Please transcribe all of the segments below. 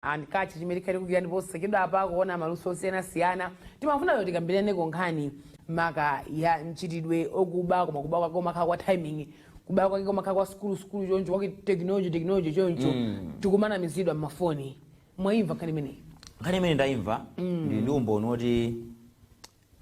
and catch chimene tikhala tikugwira ndipo posachedwapa pakuona maluso osiyanasiyana timafuna kuti tikambiraneko nkhani maka ya mchitidwe okuba koma kuba kwake kumakhala kwa timing kuba kwake kumakhala kwa sukulu sukulu choncho kwake technology technology choncho tikumanamizidwa mmafoni mwayimva nkhani imeneyi nkhani imene ndayimva ndi ndi umboni woti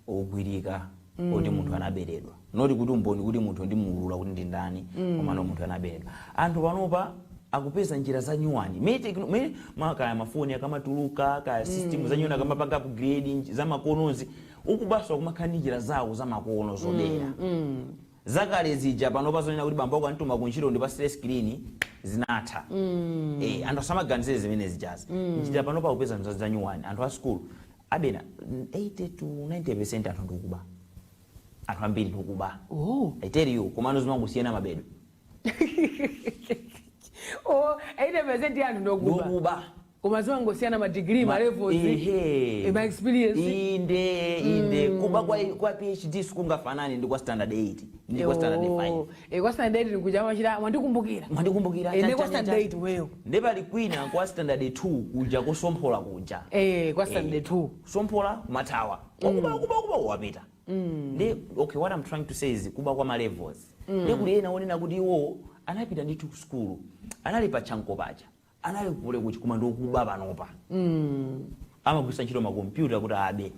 ogwirika oti munthu anaberedwa not kuti umboni kuti munthu ndimuulula kuti ndi ndani komano munthu anaberedwa anthu panopa akupeza njira za nyuwani Mene tekno- me- ma- kaya mafoni akamatuluka kaya system za nyuwani akamapanga upgrade nj- zamakonozi okubanso akumakhala ndi njira zawo zamakono zobera zakale zija panopa zonena kuti bambo ako andituma kuntchito ndi pa stress screen zinatha eh, anthu asamaganizire zimene zijazi njira panopa akupeza njira za nyuwani anthu a school kapena 80 to 90 percent anthu ndi okuba anthu ambiri ndi okuba oh. i tell you komano zimangosiyana mabedwe oh, 80 percent anthu ndi okuba ndi okuba koma zimangosiyana ma degree ma levels ehe eh, ma experience inde inde mm. kuba kwa kwa phd sikungafanane ndi kwa standard 8 ndi kwa standard 5 oh. E, kwa standard 8 kuja machira mwandikumbukira. Mwandikumbukira. E, chan, ne kwa chan, standard chan. 8 weyo. Nde pali kwina kwa standard 2 kuja kosomphola kuja. E, kwa standard 2. Somphola kumathawa. Okuba okuba okuba wapita. Nde okay what I'm trying to say is kuba kwa ma levels. Nde kuli ena onena kuti iwo anapita ndithu ku school. Anali pa chanko paja. anali ku Poly kuti koma ndi okuba panopa amagwiritsa ntchito makompyuta kuti abe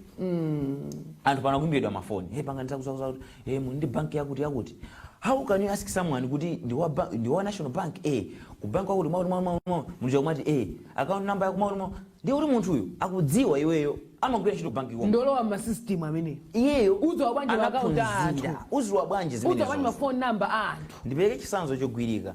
anthu pano akuimbiridwa mafoni hey, panga ndizakuzakuza kuti hey, muli ndi banki yakuti yakuti how can you ask someone kuti ndi wa ba- ndi wa national bank eh ku bank wakuti mwakuti mwakuti mwakuti muja kumati eh account number yako mwakuti mwakuti ndiye kuti munthuyu akudziwa iweyo amagwira ntchito ku banki koma ndolowa masystem amene iyeyo Udziwa bwanji ma account a anthu? anaphunzira udziwa bwanji ma account zimenezo ma foni namba a anthu ndipereke chitsanzo chogwirika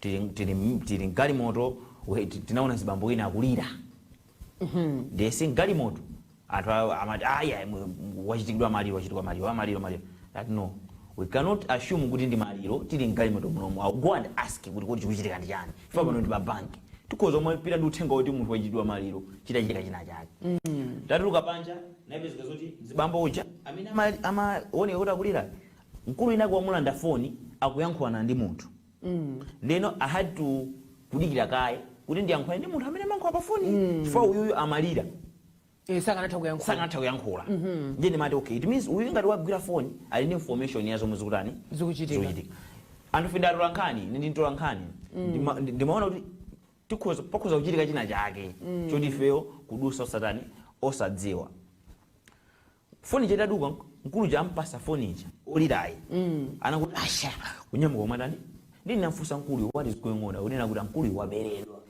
tili, tili, tili mgalimoto we- ti- tinaona mzibambo wina akulira ndiye si mgalimoto anthu a- amati aya wachitikiridwa maliro wachitikiridwa maliro wa maliro maliro that no we cannot assume kuti ndi maliro tili mgalimoto munomo I'll go and ask kuti kuti chikuchitika ndi chani chifukwa pano ndi pa banki tikhoza kumapita ndi uthenga woti munthu wachitikiridwa maliro chitachitika china chake tatuluka panja inapezeka zoti mzibambo uja amene ama- amaoneka kuti akulira mkulu winawake wamulanda foni akuyankhulana ndi munthu ndeno i had to kudikira kaye kuti ndiyankhulane ndi munthu amene amayankhula pa foni chifukwa uyuyu amalira Eh, samatha kuyankhula sakanatha kuyankhula ndiye ndimati okay it means uyu ngati wagwira foni ali ndi information ya zomwe zikutani Zikuchitika. anthu fe ndi atola nkhani ine ndi mtola nkhani Ndima- ndi- ndimaona kuti tikhoza pakhoza kuchitika china chake choti ifeyo kudutsa osatani osadziwa foni ija itaduka nk- mkulu uja ampasa foni ija olirayo anangoti asha kunyamuka umatani ndinamfusa mkuluyo what is going on akunena kuti mkuluyo waberedwa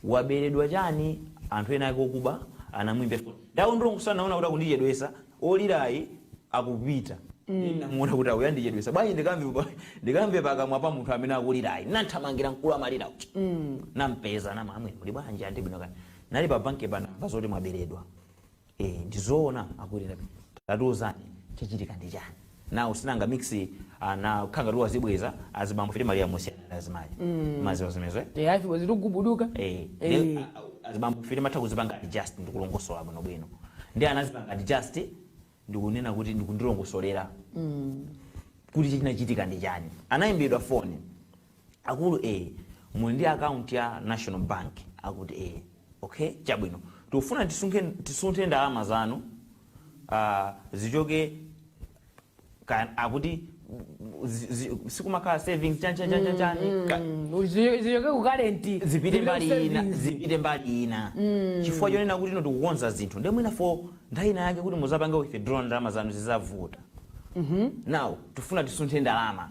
waberedwa chani anthu ena ake okuba anamuimbira foni ndawo ndilongosa naona kuti akundichedwesa olirayo akupita ndinamuona kuti uyu andichedwesa bwanji ndikamve pa- ndikamve pakamwa pa munthu amene akulirayo nathamangira mkulu amalira uja nampeza namamwe muli bwanji a ndili bwino kani nali pa bankipa namva zoti mwaberedwa Eh, ndizoona akulira tatiuzani chachitika ndi chani now sinanga mix anakhala ngati wazibweza azibambofe timalira mosiyana azimayi mm. maziwa zimenezo eh afi wazitu gubuduka eh, eh. azibambofe timatha kuzipanga adjust ndikulongosola bwino bwino ndi anazipanga adjust ndikunena kuti ndikundilongosolera mm. kuti chinachitika ndi chani anayimbidwa foni Akulu ee muli ndi account ya national bank akuti ee okay chabwino tikufuna tisunke tisunthe ndalama zanu uh, zichoke ka, akuti zi- zi- sikumakhala savings chan chan chan chan chan ka- Mm, zi- zichoke ku current zipite mbali ina zipite mbali ina chifukwa chonena kuti ino tikukonza zinthu ndiye mwina for nthawi ina yake kuti muzapange withdraw ndalama zanu zizavuta now tifuna tisunthe ndalama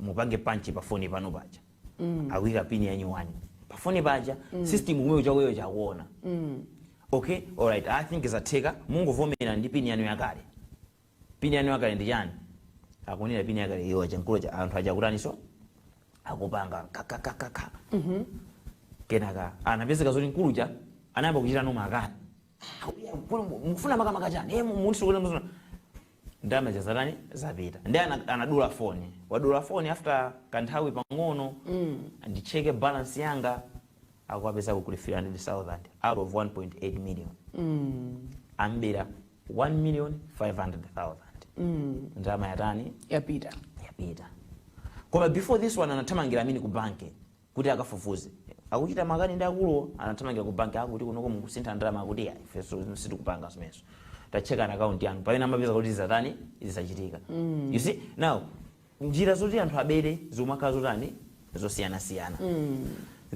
mupange punch pa foni panu paja mm. akuika pini yanyuwani pa foni paja mm. system kumene chakoyo chakuona mm. okay alright i think zatheka mungovomera ndi pini yanu yakale pini yanu yakale ndi chani akunena pini yakale iyo chankulu cha anthu aja akutaniso akupanga kakakakaka mm -hmm. kenaka anapezeka zoti mkuluja anayamba kuchita nawo makani mufuna makamaka chani Eh, mu- munthu sikuti mufuna ndalama zija zatani zapita ndi ana- anadula foni wadula foni after kanthawi pang'ono nditcheke balance yanga akukapeza kuli 300000 out of 1.8 million ambera 1 million 500000 ndalama yatani yapita yapita koma before this one anathamangira I mean ku banki kuti akafufuze. Akuchita makani ndi akuluwo, anathamangira ku banki, akuti kunoko mukusintha ndalama, akuti iyayi ifenso sitikupanga zimenezo. Tatchekani akaunti yanu. Pamene amapeza kuti zatani? Zachitika. You see? Now, njira zoti anthu abere zikumakhala zotani? Zosiyanasiyana.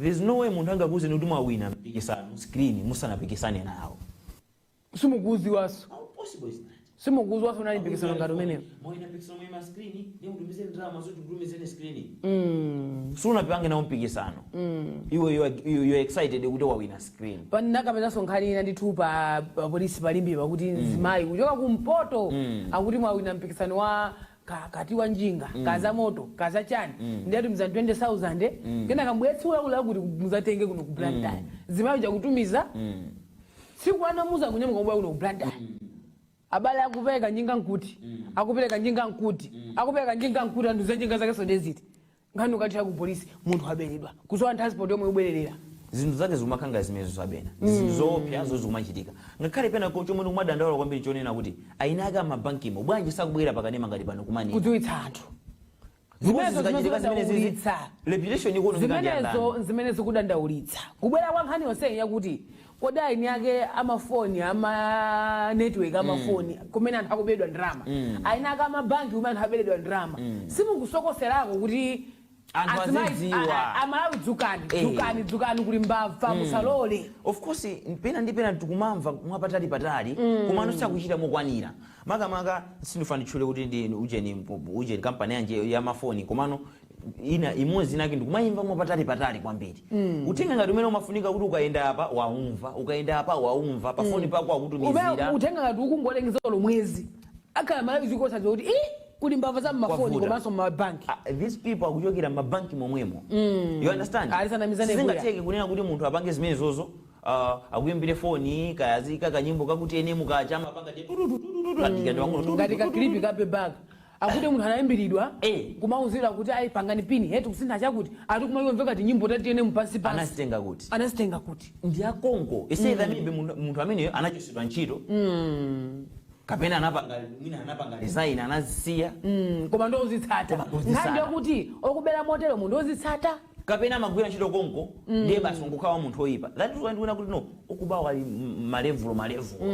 There's no way munthu angakuuzeni kuti mwawina mpikisano screen musanapikisane nawo. simukuuziwaso How possible is that? simukuuziwaso unali mpikisano ngati umenewo Mwawina mpikisano mwawina screen, ndi mutumize ndalama zoti mutumizeni screen. Mm. sunapange nawo mpikisano iwe you are- you- you are excited kuti wawina screen panakapezaso nkhani ina ndithu pa pa polisi pa Limbepa kuti mzimayi kuchoka kumpoto akuti mwawina mpikisano wa ka kati wa njinga mm. kaza moto kaza chani mm. ndiye atumiza 20000 mm. kenaka mubwere tsiku lakuti lakuti muzatenge kuno ku blantyre mm. mzimayi uja kutumiza mm. tsiku anamuuza kunyamuka kubwera kuno ku blantyre mm. abale akupereka njinga nkuti mm. akupereka njinga nkuti mm. akupereka njinga nkuti anthu za njinga zakezo nde ziti nkhani kukathera ku polisi munthu waberedwa kusowa transport yomwe yobwererera zinthu zake zikumakhala ngati zimenezo zabena zinthu zoopsazo zikumachitika ngakhale pena ko chomwe ndikumadandaula kwambiri chonena kuti eni ake amabankimo bwanji sakubwera pakanema ngati pano kumani kudziwitsa anthu zimenezo zikachitika zimene zizi zimenezo reputation ikuonongeka ndi andani zimenezo zimene zikudandaulitsa kubwera kwa nkhani yonseyi yakuti Kodi eni ake amafoni ama network amafoni mm. kumene anthu akuberedwa ndalama mm. eni ake amabanki kumene anthu aberedwa ndalama mm. simukusokoserako kuti amalawi dzukani eh. dzukani dzukani kuli mbava hmm. musalole of course pena ndi pena tikumamva mwapatali patali hmm. komano sakuchita mokwanira makamaka sindifuna nditchule kuti ndi ujeni ujeni kampani yanje ya mafoni komano ina imodzi inake ndikumayimva mwapatali patali kwambiri mm. uthenga ngati umeneu umafunika kuti ukayenda apa waumva ukayenda apa waumva pa foni mm. pako akutumizira Ume, uthenga ngati ukungolengeza lomwezi akhala malawi zikosa zoti i kuli mbava za mmafoni komanso mmabanki uh, ah, these people akuchokera mmabanki momwemo mm. you understand tisanamizane sizingatheke kunena kuti munthu apange zimenezozo uh, ah, akuimbire foni kayazika kanyimbo kaku TNM kaja amapanga mm. ngati kaklipi kape baka Akuti munthu anaimbilidwa Eh. kumauzidwa kuti ayi pangani pin head kusintha chakuti ati kumamveka ngati nyimbo ya TNM pansi pansi. anazitenga kuti Anazitenga kuti. ndi akonko it's either maybe munthu munthu ameneyo anachosedwa ntchito kapena anapanga mwina anapanga resign anazisiya Mm, koma ndi ozitsata. Koma ozitsata. Nkhani yokuti okubera motero munthu ozitsata. kapena amagwira ntchito konko ndiye basi angokhala munthu oyipa that is why ndikuona kuti no okubawo ali m- malevulo malevulo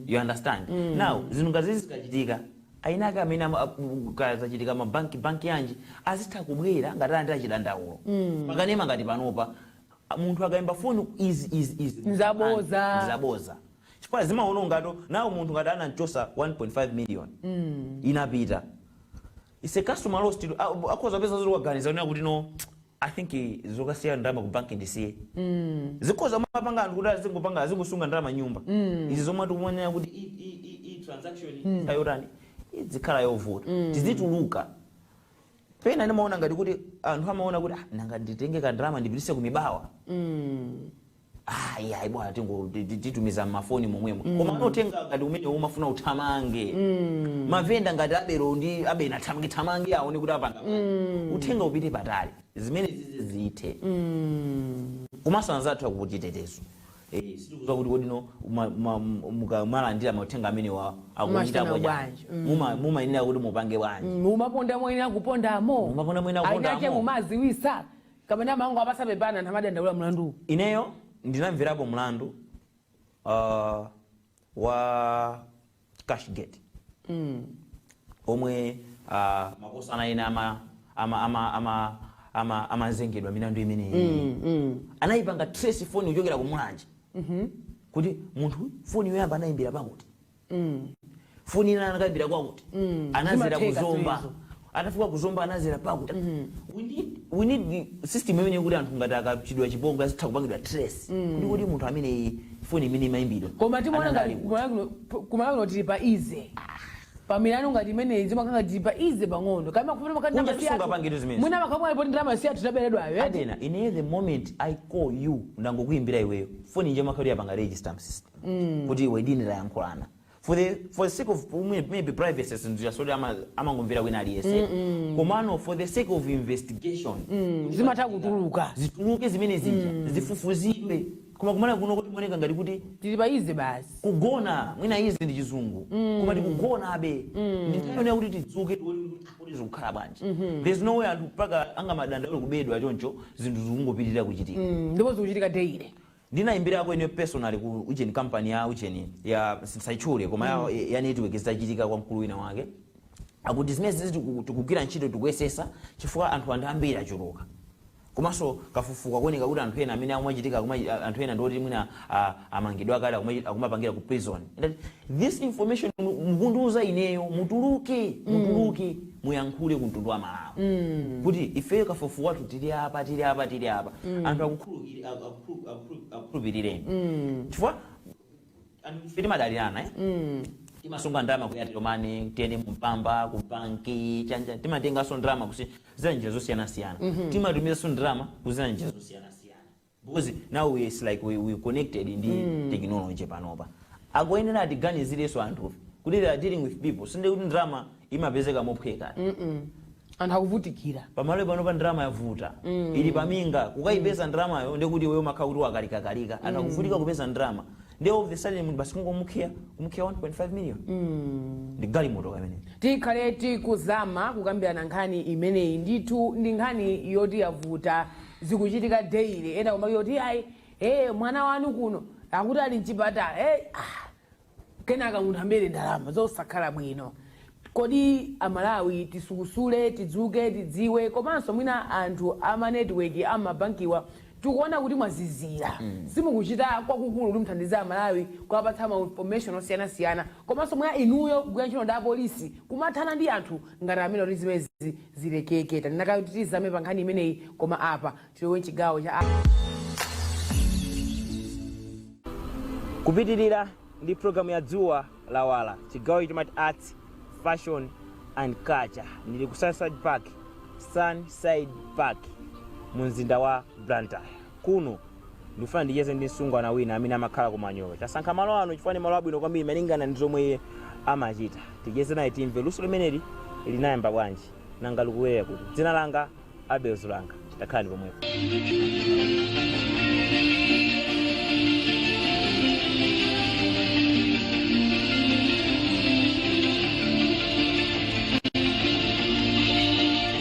you understand now zinthu ngati zizi zikachitika eni ake amene ama- a- ku- kaya zachitika mabanki banki yanji azitha kubwera ngati alandira chidandaulo pakanema ngati panopa a- munthu akayimba foni izi izi izi Nzaboza. zaboza chifukwa zimaonongatu now munthu ngati anamchosa 1.5 million inapita is a customer lost akhoza peza zoti waganiza zonena kuti no I think zokasiya ndalama ku banki ndisiye zikhoza kumapanga anthu kuti azingopanga azingosunga ndalama mnyumba izi zomwe tikumanena kuti i- i- i- i- transaction ikhala yotani idzikhala yovuta tizituluka pena ndimaona ngati kuti anthu amaona kuti "Ah, nanga nditenge kandalama ndipitise ku Mibawa ayi ayi bwana tingo ti- ti- titumiza mafoni momwemo koma anotenga ngati umene umafuna uthamange mavenda ngati aberedwa ndi abena thamange thamange aone kuti apange uthenga upite patali zimene zizi zithe komanso anzathu akuchitetezo Eh, sitikudziwa kuti kodi inu ma- ma- muka- mwalandira mauthenga amenewa akuchita Mumachita bwanji bwanji. Muma- mumayenera kuti mupange bwanji mumaponda moyenera kupondamo Mumaponda moyenera kupondamo. Enaake mumadziwitsa kapena amangowapatsa pepani anthu amadandaula mlanduwu? Ineyo ndinamverapo mlandu uh, wa cashgate mm. omwe uh, makosana ena ama ama ama ama ama amazengedwa milandu imeneyi mm, mm. anayipanga trace foni kuchokera ku Mulanje mm -hmm. kuti munthu foni yoyamba anayimbira pakuti foni ina anakaimbira kwakuti anazera Zimatheka ku Zomba zimenezo. atafika ku Zomba anazera pakuti we need, we need the system imene yakuti anthu ngati achitidwa chipongwe azitha kupangidwa trace kuti kuti munthu amene foni imene imayimbidwa koma timaona anali ngati ali kuti. kumalo kuno tili pa easy pamilandu ngati imeneyi zimakhala ngati tili pa easy pang'ono koma kupita makati Kunja tisungapange tizimezi. mwina maka mwa lipoti ndalama zathu taberedwayo eti adanena ine the moment i call you ndangokuyimbira iweyo foni nje imakhala yapanga register mu system mm. kuti iwe ndi ine tayankhulana for the for the sake of maybe privacy si zinthu zoti amangomvera wina aliyese komano for the sake of investigation mm. zimatha kutuluka zituluke zimene zija mm. zifufuzidwe koma kumalo kuno kukuoneka ngati kuti tili pa easy basi kugona mwina easy ndi chizungu mm. koma tikugonabe mm. nde tiyenera kuti tidzuke kuti zikukhala bwanji mm-hmm. there's no way anthu mpaka angamadandaule kuberedwa choncho zinthu zikungopitirira kuchitika mm. ndipo zikuchitika daily Ndinayimbirako ineyo personally ku ujeni company ya ujeni ya ndisayitchule koma ya, ya network zitachitika kwa mkulu wina wake akuti zimene zizi tiku- tikugwira ntchito tikuyesetsa chifukwa anthu ake ndi ambiri achuluka komanso kafukufuku akuoneka kuti anthu ena amene akumachitika akuma- anthu ena ndi oti mwina ah, amangidwa kale akumachi- akumapangira ku prison Ndati, this information mukundiuza ineyo mutuluke mm. mutuluke muyankhule ku mtundu wa Malawi mm. kuti ifeyo kafukufuku wathu tili apa tili apa tili apa mm. anthu akukhulupiri- aku- aku- aku- akukhulupirireni chifukwa anthu ife timadalirana eh? timasunga ndalama ku Airtel Money TNM Mpamba ku banki chani timatenganso ndalama kudzera njira zosiyanasiyana timatumizanso ndalama kudzera njira zosiyanasiyana Because now it's like we, we're connected ndi technology panopa akuyenera atiganizireso anthufe kuti they are dealing with people si nde kuti ndalama imapezeka mophweka anthu akuvutikira pa Malawi panopa ndalama yavuta ili paminga kukaipeza ndalamayo ndekuti iweyo umakhala kuti wakalikakalika anthu akuvutika kupeza ndalama nde all of a sudden munthu basi kungomukhiya kumukhiya 1.5 million ndi galimoto kamene tikhale tikuzama kukambirana nkhani imeneyi ndithu ndi nkhani yoti yavuta zikuchitika daily ena kumake kuti ayi ee mwana wanu kuno akuti ali mchipatala hey, ah. kenaka munthu ambere ndalama zosakhala bwino kodi amalawi tisukusule tidzuke tidziwe komanso mwina anthu amanetiweki amabankiwa tikuona kuti mwazizira mm. simukuchita kwakukulu kuti mthandize amalawi kuwapatsa ma information osiyanasiyana komanso mwa inuyo kugwira ntchito ndi apolisi kumathana ndi anthu ngati amenewa kuti zimezi zilekeke. Tanena kale kuti tizame pa nkhani imeneyi koma apa tilowe m'chigawo cha a. kupitirira ndi programu ya dzuwa lawala chigawo chimati arts fashion and culture ndili ku sunnyside park sunnyside park mu mzinda wa blantyre kuno Ndikufuna ndicheze ndi msungwana wina amene amakhala ku Manyowe. Tasankha malo ano chifukwa ndi malo abwino kwambiri malingana ndi zomwe iye amachita. Ticheze naye timve luso limeneli linayamba bwanji, nanga likulowera kuti. Dzina langa Abel Zulanga. Takhalani pomwepo.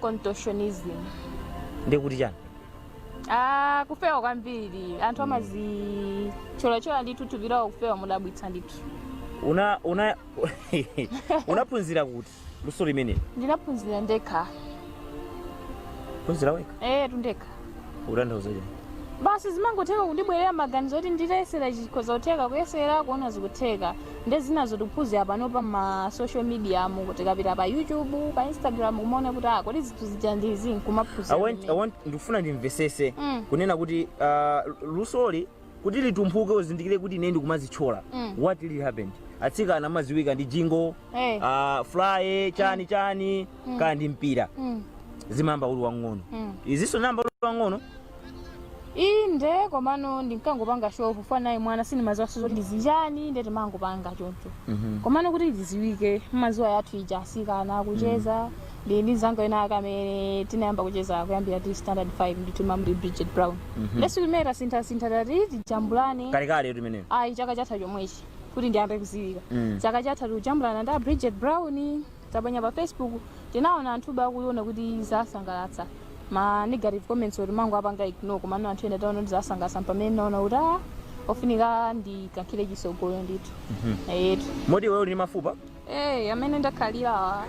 contortionism ndiye kuti chani ah kufewa kwambiri anthu amazitcholatchola ndithu thupi lawo kufewa modabwitsa ndithu una una unaphunzira kuti luso limeneli ndinaphunzira ndekha phunzira wekha eyetu ndekha ukutanthauza chani basi zimangotheka kundibwerera maganizo kuti nditayesera chikhoza kutheka kuyesera kuona zikutheka nde zinazo tikuphunzira pano pa ma social media mokuti tikapita pa youtube pa instagram kumaona kuti ah kodi zinthu zija ndizi I want- I nkumaphunzira want- ndikufuna ndimvesese Mm. kunena kuti ah, lusoli kuti litumphuke uzindikire kuti ine ndikumazitchola Mm. what really happened atsikana amaziwika ndi jingo Eh. ah, fly chani chani kaya ndi mpira Mm. zimayamba uli wang'ono Mm. izinso unayamba uli wang'ono inde komano ndinkangopanga show for fun mwana sindimaziwaso zoti ndi zichani nde timangopanga choncho komano kuti ndiziwike mmaziwa yathu ija asikana kucheza ndi ndi mzanga wina ake amene tinayamba kucheza kuyambira tili standard 5 ndithu mamuli bridget brown nde tsiku limene tasinthasintha tati tijambulane kalekaletu imeneyo ayi chaka chatha chomwechi kuti ndiyambe kuziwika Mm. chaka chatha tikujambulana ndi a bridget brown taponya pa facebook tinaona anthu akuiona kuti zasangalatsa ma negative comments oti timangowapanga ignore komano anthu ena taona kuti zasangalatsa pamene naona kuti ah, ofunika ndikankhire chisogolo ndithu eyetu moti iweyo uli ndi mafupa Eh, amene ndakhalirawa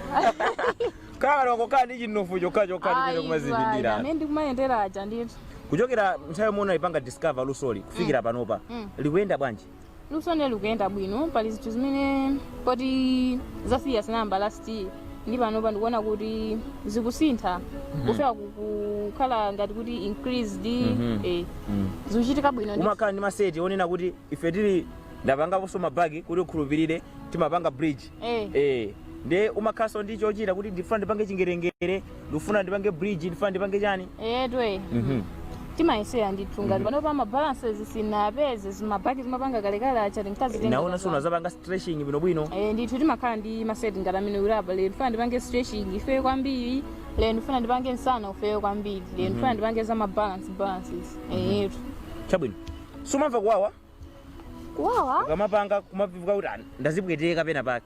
kala wakokaa ndi chinofu chokhachokha chimene Ayi, kumazipindira amene ndikumayendera aja ndithu kuchokera nthawi yomwe unalipanga discover lusoli kufikira panopa Mm. likuyenda bwanji lusoli likuyenda bwino pali zinthu zimene poti zasiyana ndinayamba last year ndi panopa ndikuona kuti zikusintha kufika ku- kukhala ngati kuti increased Mhm. eh, zikuchitika bwino ndithu. umakhala ndi maseti onena kuti ife tili ndapangaponso mabagi kuti ukhulupirire timapanga bridge Eh. eh nde umakhalanso ndi chochita kuti ndifuna ndipange chingerengere ndifuna ndipange bridge ndifuna ndipange chani eyetu Mhm. timayesera ndithu ngati pano pa mabalances sinapeze zimabagi timapanga kalekale acha tinkazitenga naona so unazapanga stretching bwinobwino Eh, ndithu timakhala ndi maseti ngati amenewo apa lero ndifuna ndipange stretching ifeyo kwambiri lero ndifuna ndipange msana ifeyo kwambiri lero ndifuna ndipange za mabalance balances eyetu chabwino sumamva kuwawa kuwawa ukamapanga kumamveka kuti "Ah, ndazipweteka pena pake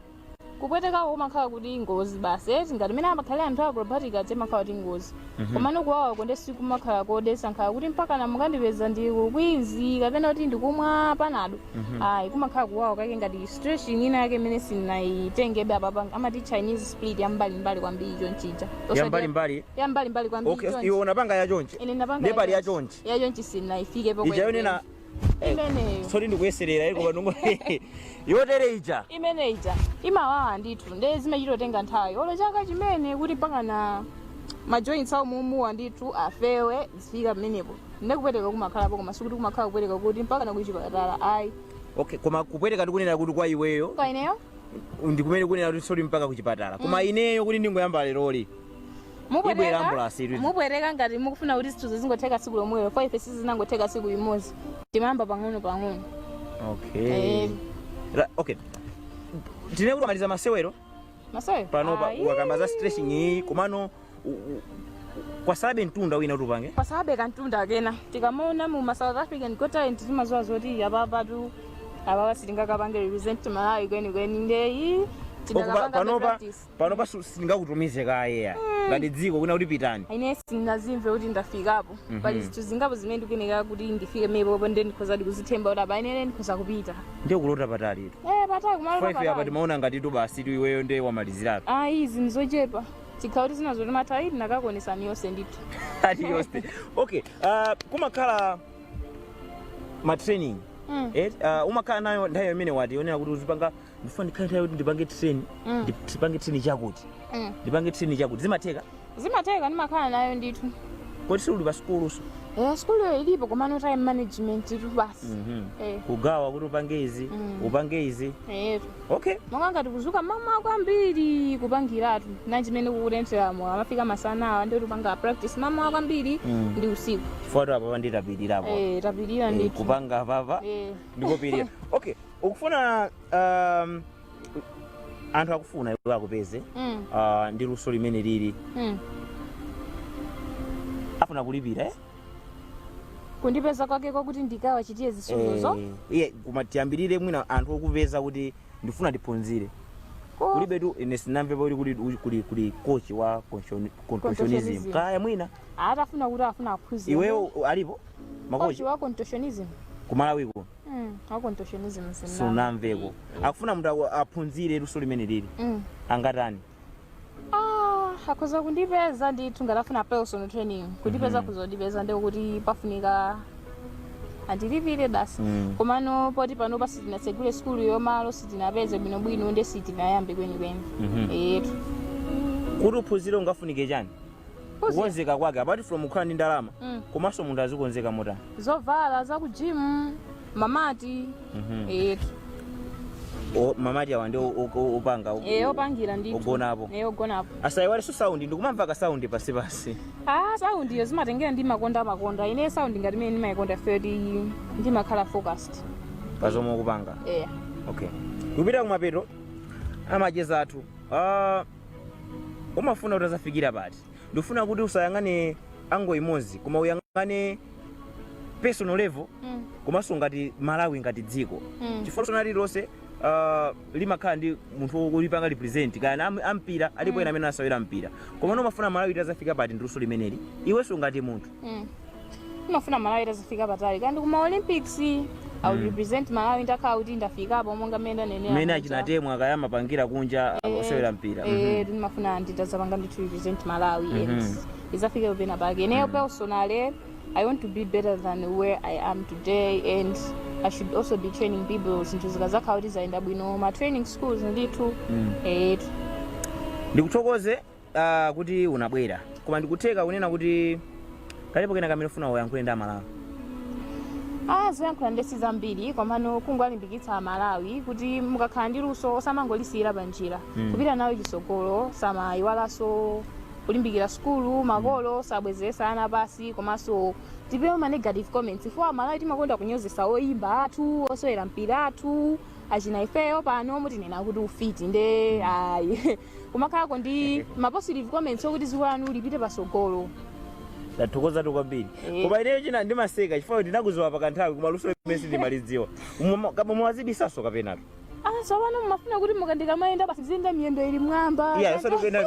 kupwetekako kumakhala kuti ngozi basi eti ngati mene amakhalira anthu a acrobatic aja imakhala kuti ngozi komano kuwawa konde sikumakhala kodesa nkhawa kuti mpakana mukandipeza ndi ukwinzi kapena kuti ndikumwa panado ayi kumakhala kuwawa kake ngati stretching ina yake imene sinayitengebe apapa amati chinese split yambalimbali kwambiri chonchija Osati- yambalimbali yambalimbali kwambiri okay chonchi. iwe unapanga yachonchi ine napanga ndiye pali yachonchi. yachonchi sinayifike ijayo nena imeneyo soti ndikuyeserera iko pang'ono yotere ija imene ija imawawa ndithu nde zimachitotenga nthawi olo chaka chimene kuti mpakana majoints a umuumuwa ndithu afewe ifike pamenepo nde kupweteka kumakhalapo koma sikuti kumakhala kupweteka kuti mpakana kuchipatala ayi okay koma kupweteka ndikunena kuti kwa iweyo kwa ineyo ndikumene kunena kuti soti mpaka kuchipatala koma ineyo kuti ndingoyamba leroli Ibwera ambulance ili. mupweteka ngati mukufuna kuti zinthu zizingotheka tsiku lomwelo kwa ife sizinangotheka tsiku limodzi timayamba pang'ono pang'ono okay Eh. Ra- okay tinene kuti mwamaliza masewero maso pano pa- Ayi. wakamba za stretching iyi komano u- u- kwatsalabe mtunda wina kuti upange kwatsalabe kamtunda kena tikamaona mu ma south african got talent timaziwa zoti apapa tu apapa sitingakapange represent malawi kwenikweni ndeyi Okupa- panopa panopa su- sindingakutumize kaye ya ngati dziko kwina kuti pitani ine sindinazimve kuti ndafikapo Mhm. pali zinthu zingapo zimene ndikuyenera kuti ndifike pomwepo nde ndikhozadi kuzithemba kuti apa ine ndikhoza kupita ndiye kulota patalitu Eh, patali kumalo faife apa patali timaona ngati tu basi tu iweyo ndiye wamalizirapo ayi izi ndizochepa chikhala kuti tinali ndi nthawi tinakakuonesani zonse ndithu ati zonse okay ah, kumakhala matraining Mm. eh, ah, umakhala nayo nthawi imene wati yonena kuti uzipanga ndifuna ndikhale nthawi kuti ndipange training Mm. ndipange training chakuti Mm. ndipange training chakuti zimatheka zimatheka ndimakhala nayo ndithu kodi suli pa sukuluso eh, sukuluyo ilipo komano time management tu basi eh, kugawa kuti upange izi Mm. upange izi eh. okay monga ngati kuzuka mmawa kwambiri kupangiratu nanga chimene kukutentheramu amafika masana awa ndiye tipanga practice mmawa kwambiri Mm. ndi usiku chifukwa tu apapa ndikapirirapo eh, tapirira Eh, ndithu kupanga apapa eh. ndikupirira okay ukufuna um, anthu akufuna iwe akupeze Mm. uh, ndi luso limene lili Mm. afuna kulipira eh? kundipeza kwake kwakuti ndikawachitire zisuzozo Eh, iye koma tiyambirire mwina anthu okupeza kuti ndifuna ndiphunzire Ko- kulibetu ine sinamvepo kuti kuli, kuli, kuli kochi wa contortion- contortionism Contortionism. kaya mwina atafuna kuti afuna aphunzire iweyo alipo makochi kochi wa contortionism kumalawi kuno Mm, wa contortionism. sinamveko akufuna munthu aku- aphunzire luso limene lili Mm. angatani Ah, akhoza kundipeza ndithu ngati afuna personal training kundipeza Mhm. kuzandipeza ndiye kuti pafunika andilipire basi Mm. komano poti panopa sitinasegule sikulu yo malo sitinapeze bwinobwino nde sitinayambe kwenikweni Mhm. etu kuti uphunzire ungafunike chani kukonzeka kwake apart from kukhala ndi ndalama Mm. komanso munthu azikonzeka motani zovala za ku gym ma mat Mhm. eh O- ma mat awa ndi o- o- o- opanga o- eh opangira ndi Ogonapo. eh ogonapo asayiwalenso sound ndikumamva ka sound pasipasi ah sound iyo zimatengera ndi makonda makonda ine sound ngati imene ndimayikonda 30 ndimakhala focused pazomwe ukupanga eh okay kupita kumapeto amacheza athu Ah, umafuna utazafikira pati ndifuna kuti usayang'ane angle imodzi koma uyang'ane personal level Mm. komanso ngati malawi ngati dziko Mm. chifukwa luso lili lonse uh, limakhala ndi munthu ulipanga represent kaya am, ampira alipo ena amene amasewera mpira komano umafuna malawi itazafika pati ndiluso limeneli iwenso ngati munthu Mm. Ndimafuna Malawi itazafika patali. Kaya ndi kuma Olympics I will Mm. represent Malawi ndakhala kuti ndafikapo monga mmene ndanenera. mmene muja. achinatemwa kaya amapangira kunja Eh, osewera mpira Eh, Mhm. ndimafuna nditazapanga ndithu represent Malawi Mhm. and izafike penapake. Ineyo personally I want to be better than where I am today and I should also be training people zinthu zikazakhala kuti zayenda bwino ma training schools ndithu. Mm. Eh, ndikuthokoze Ah, kuti unabwera koma ndikutheka kunena kuti kalipo kena kamene ufuna uyankhule ndi amalawi Ah, zoyankhula nde sizambiri komano kungowalimbikitsa amalawi kuti mukakhala ndi luso osamangolisiyira pa njira Mm. kupita nalo chisogolo osamayiwalanso kulimbikira sukulu makolo osabwezeresa ana pasi komanso tipewe ma negative comments ife amalawi timakonda kunyozesa oyimba athu osewera mpira athu achina ifeyo pano mutinena kuti ufiti nde ayi kumakhalako ndi ma positive comments okuti dziko lanu lipite pasogolo tathokozatu kwambiri Eh. koma ineyo china ndimaseka chifukwa kuti ndinakuziwa pakanthawi koma luso limene sindimalidziwa Muma- koma muwazibisaso kapenatu ah tsopano mumafuna kuti mukandika mayenda basi ziyenda miyendo ili mwamba iya Kaka- sodi kuyenda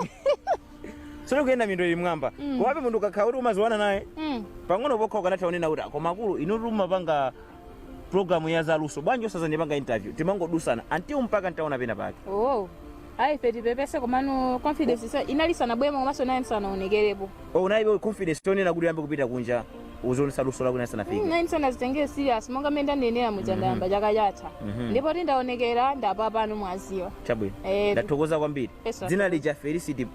sodi kuyenda mindo ili mwamba Mm. komabe munthu ukakhala kuti umaziwana naye Mm. pang'ono pokha ukanatha kunena kuti "Ah, koma akulu inu mumapanga program ya zaluso bwanji osazandipanga interview timangodusana until mpaka ntaona pena pake oh ayi ife tipepese komano confidence isa- inali sanabwere komanso ndiye nsanaonekerepo oh unaibe confidence yonena kuti uyambe kupita kunja uzionesa luso lako nali sanafike ndiye nsanazitengere serious monga mmene ndanenera muja ndayamba chaka chatha Mhm. ndipo kuti ndaonekera ndapapano mwaziwa chabwino Eh, ndathokoza kwambiri Yes, sir. dzina lija felicity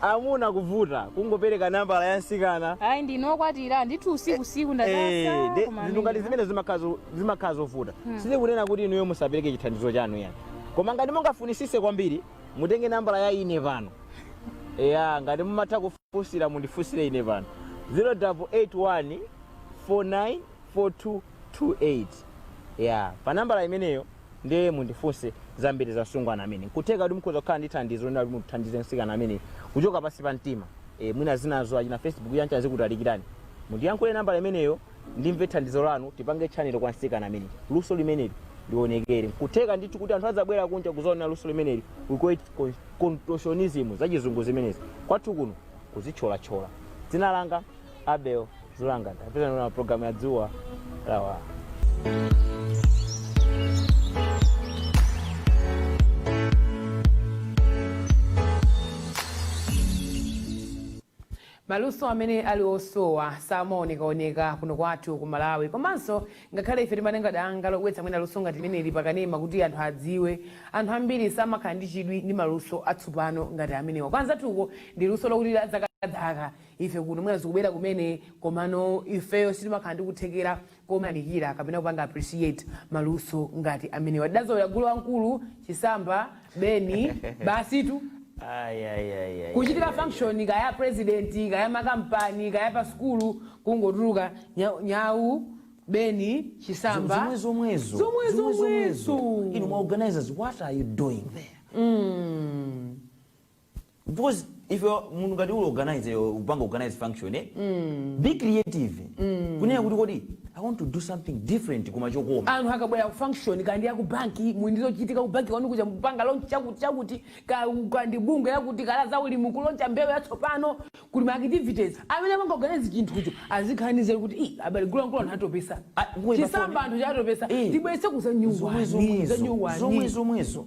amuna kuvuta kungopereka nambala ya msikana ayi ndine okwatira ndithu usiku usiku Eh, ndadasa de- koma zinthu ngati amene- zimene zimakhazo- zimakhala zovuta sindikunena kuti inuyo musapereke chithandizo chanu yani koma ngati mungafunisise kwambiri mutenge nambala ya ine pano eya ngati mumafuna kufunsira mundifunsire ine pano 0881 494228 ya pa nambala imeneyo Ndiye mundifunse zambiri za msungwana ameneyi. Nkutheka kuti mukhoza kukhala ndi thandizo lonena kuti muthandize mtsikana ameneyi kuchoka pansi pa mtima. E, mwina zinazo achina Facebook uja zikutalikirani. Mundiyankhule nambala imeneyo ndimve thandizo lanu tipange channel kwa mtsikana ameneyi. Luso limeneli lionekere. Nkutheka ndithu kuti anthu adzabwera kunja kuzaona luso limeneli. We call it con- contortionism zachizungu zimenezi. Kwathu kuno kuzitcholatchola. Dzina langa Abel Zulanga ndapita na programu ya dzuwa lawala. maluso amene ali osowa samaonekaoneka kuno kwathu ku malawi komanso ngakhale ife titatenga danga lobweretsa mwina luso ngati limeneli pakanema kuti anthu adziwe anthu ambiri samakhala ndi chidwi ndi maluso atsopano ngati amenewa kwa anzathuko ndi luso lokuti dzakadzaka ife kuno mwina zikubwera kumene komano ifeyo sitimakhala ndi kuthekera koyamikira kapena kupanga appreciate maluso ngati amenewa tidazolera gulu wamkulu chisamba beni basitu Ai, ai, ai, ai, kuchitika ai, ai. function kaya president kaya makampani kaya pa sukulu kungotuluka nya- nyau beni chisamba zomwe zomwezo zomwe Zomwe zomwezo zomwezo. inu ma organizers what are you doing there Mm. because if you are- munthu ngati uli organize eh, upanga organize function eh? be creative kunena kuti kodi i want to do something different koma chokoma anthu akabwera ku function kaya ndi ya ku banki muli ndi zochitika ku banki kwanu kuja mupanga lonchi chakuti chakuti ka- kaya ndi bungwe lakuti kaya la za ulimi kuloncha mbewu yatsopano kuli ma activities amene amaorganiza chinthucho azikhaliza kuti "Ih, abali gulongolo anthu atopesa Ah, kuwe chisamba pafoni. anthu chatopesa Eh. tibwese kuza nyuwani za zomwezo nyuwani zomwezo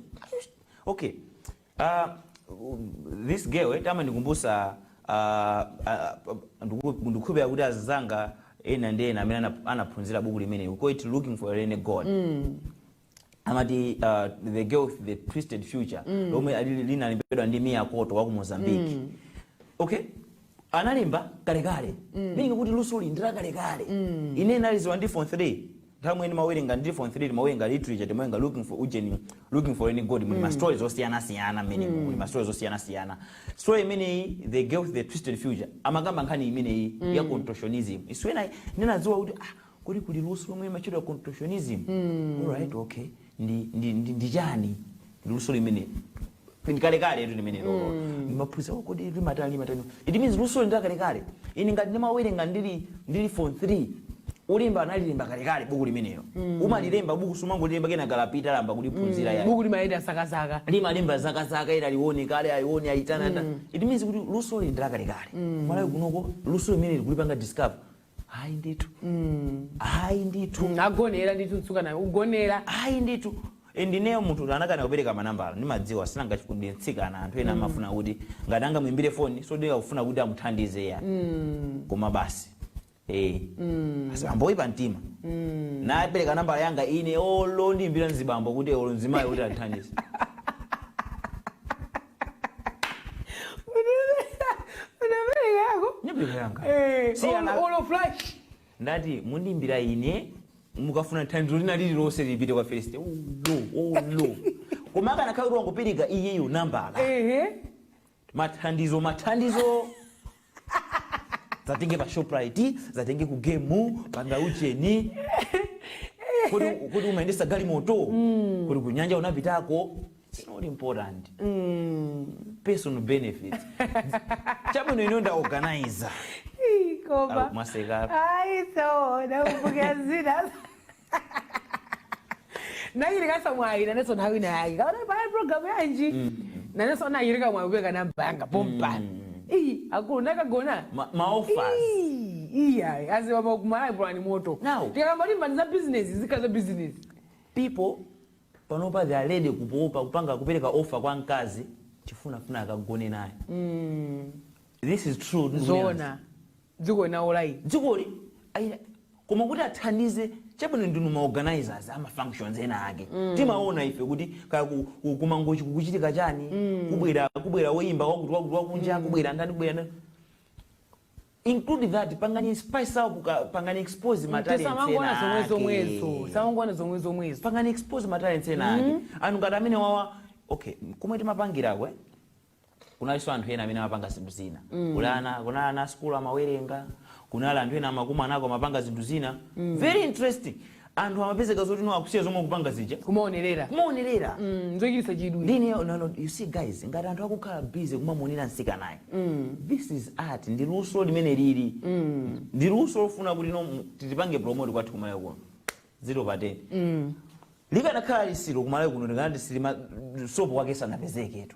okay Ah, this girl eti amandikumbutsa ah, ah, ndiku- ndikukhulupirira kuti anzanga ena ndi ena amene anap- anaphunzira buku limeneli we call it looking for a rain god amati ah, the girl with the twisted future lomwe ali- linalembedwa ndi mia couto wa ku mozambique okay analemba kalekale meaning kuti luso ili ndi lakalekale ine ndinalidziwa ndili form 3 nthawi imene ndimawerenga ndili form 3 timawerenga literature timawerenga looking for ujeni looking for a rain god muli ma stories osiyanasiyana mmene muli ma stories osiyanasiyana story imeneyi the girl with the twisted future amakamba nkhani imeneyi ya contortionism is when ndinadziwa kuti ah Kodi kuli luso lomwe limatchedwa contortionism? Alright, okay. Ndi, ndi, ndi, ndi chani luso limeneli ndi lakalekale etu limenelolo ndimaphunzira oh, kodi limatani limatani it means luso ili ndi lakalekale ine ngati ndimawerenga ndili ndili form 3 olemba analilemba kalekale buku limenelo ukamalemba buku sumangolemba kenaka lapita layamba kuliphunzira yayi buku limayenda zakazaka limalemba zakazaka ila lione kale aione aitana mm. it means kuti luso ili ndi lakalekale mm. malawi kunoko lusoli kumene tikulipanga discover hayi ndithu hayi ndithu ndagonera ndithu mtsikana ndagonera hayi ndithu And ineyo munthu woti ndinakana kupereka manambala ndimadziwa si nanga ujeni ndi mtsikana anthu ena amafuna kuti ngati angamuimbire foni osati akufuna kuti amuthandize ya koma basi Eh. Ena ambiri oyipa mtima ndinapereka nambala yanga ine olo andiimbira mzibambo kuti olo mzimayi kuti athandize unaperekako ndinapereka yanga Eh, Si olo- ana- olo flash ngati mundiimbira ine mukafuna thandizo lina lililonse lipite kwa feleste ulo ulo koma akanakhala kuti wangopereka iyeyo nambala ehe mathandizo mathandizo ndidzakutenge pa shoprite ndidzakutenge ku game panga ujeni kodi kodi umayendetsa galimoto kodi kunyanja unapitako It's not important personal benefits chabwino ineyo ndaorganiza Ih, koma Au, mwaseka. ayi so ndakumbukira zina nayenso ali ndi mwayi nanenso nawe nayi kaona paya programu yanji nanenso nayirika mwayi kupereka namba yanga pompa iyi akulu nakagona Ma- ma offers Ii, iyayi aziwa makumalayi pulani moto Now. tikakamba mbali za bizinesi zikhala za bizinesi people panopa they are ready kupopa kupanga kupereka offer kwa mkazi chifunafuna akagone naye this is true ndikunenazi. zoona dziko linawola ili dzikoli ayi, koma kuti athandize chabwino ndinu ma organizers ama functions ena ake timaona ife kuti kaya ku- ku- ku Mangochi kukuchitika chani kubwera kubwera woyimba wakuti wakuti wakunja kubwera ndani kubwera ndani include that pangani spice up ka- pangani expose ma talents ena tisamangoona zomwe ake. zomwezo osamangoona zomwe zomwezo pangani expose ma talents ena ake anthu ngati amene awawa okay kumwe timapangirako eh? kunalinso anthu ena amene amapanga zinthu zina kuli ana kunali ana asukulu amawerenga kunali anthu ena amakumanako amapanga zinthu zina very interesting anthu amapezeka zoti no akusiya zomwe kupanga zija kumaonerera kumaonerera Mm, zochititsa chidwi ndiye no you see guys ngati anthu akukhala busy kumamuonera mtsikanayu this is art ndi luso limene lili ndi luso lofuna kuti no mu- tilipange promote kwathu ku Malawi kuno zero pa 10 mm. likanakhala litsiro ku Malawi kuno likanati silima sopo wake sanapezeketu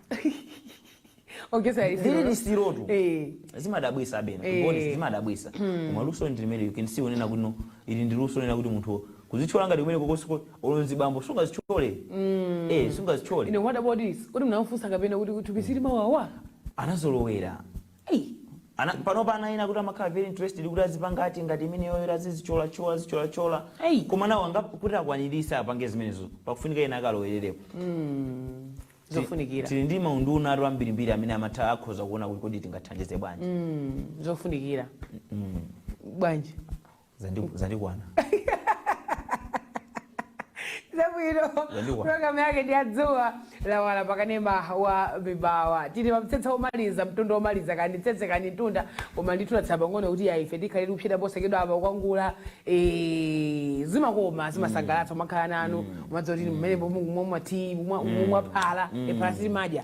ogesa lili litsiro litsirotu Eh. zimadabwisa abena Eh. ngoni zimadabwisa koma luso ndi limeneli you can see kunena kuti no ili ndi luso kunena kuti munthu kuzitchola ngati kumene kokosiko olonzi bambo sungazitchole eh sungazitchole ine what about this kuti munamufunsa kapena kuti thupi silimawawa anazolowera Eyi. Ana, panopa ana ena kuti amakhala very interested kuti azipanga ati ngati imeneyo yoti azizitcholatchola azitcholatchola Eyi. koma nawo ana kuti akwanirise apange zimenezo pakufunika ena akalowererepo zofunikira tili ndi maunduna athu ambirimbiri amene amatha akhoza kuona kuti kodi tingathandize bwanji Mm, zofunikira bwanji Zandi- zandikwana zabwino Zandiwa. programu yake ndi ya Dzuwa Lawala pakanema wa Mibawa tili pamtsetse omaliza mtunda omaliza kani mtsetse kani mtunda koma ndithu tatsala pang'ono kuti yaife tikhale tikutsika posachedwa apa kwangula eh, zimakoma zimasangalatsa umakhala nanu umadziwa kuti mmene mumati mumwa phala eh phala sitimadya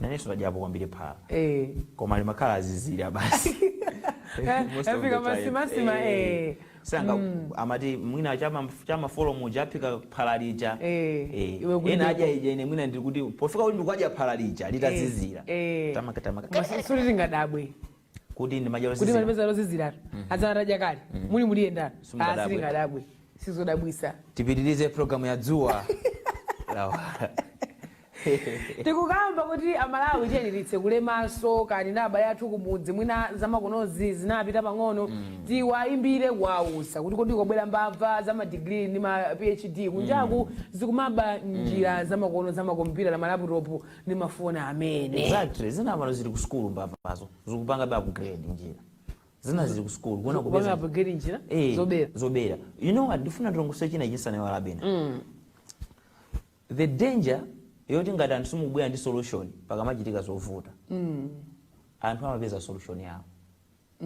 nanenso ndadyapo kwambiri phala eh koma limakhala lozizira basi Most of Afika the time. madzimadzi, Eh. eh. anzanga amati mwina chama chammawa muja aphika phala lija Eh, Eh, iwe kuti ena ndiko- adya ija ine mwina ndikuti pofika kuti ndikwadya phala lija litazizira Eh. tamaka tamaka Koma si- suli tingadabwe kuti ndi madya kuti lozizira malipeza loziziratu adzana tadya kale muli muli yendano Simungadabwe. sitingadabwe sizodabwisa tipitirize programu ya dzuwa lawala tikukamba kuti amalawi tiyeni titsekule maso kani na abale athu kumudzi mwina zamakonozi zinapita pang'ono tiwayimbire kuwauza kuti kodi kwabwera mbava za madigiri ndi ma phd kunjaku zikumaba njira zamakono zamakompyuta na malaputopu ndi mafoni amene exactly zina pano zili ku sukulu mbavazo zikupanga be upgrade njira zina zili ku sukulu kuona kupanga kupeza upgrade njira Eh, zobera zobera you know what ndifuna ndilongosole china chake ndisanaiwale abena the danger yoti ngati anthu simukubwera ndi solution pakamachitika zovuta anthu amapeza solution yawo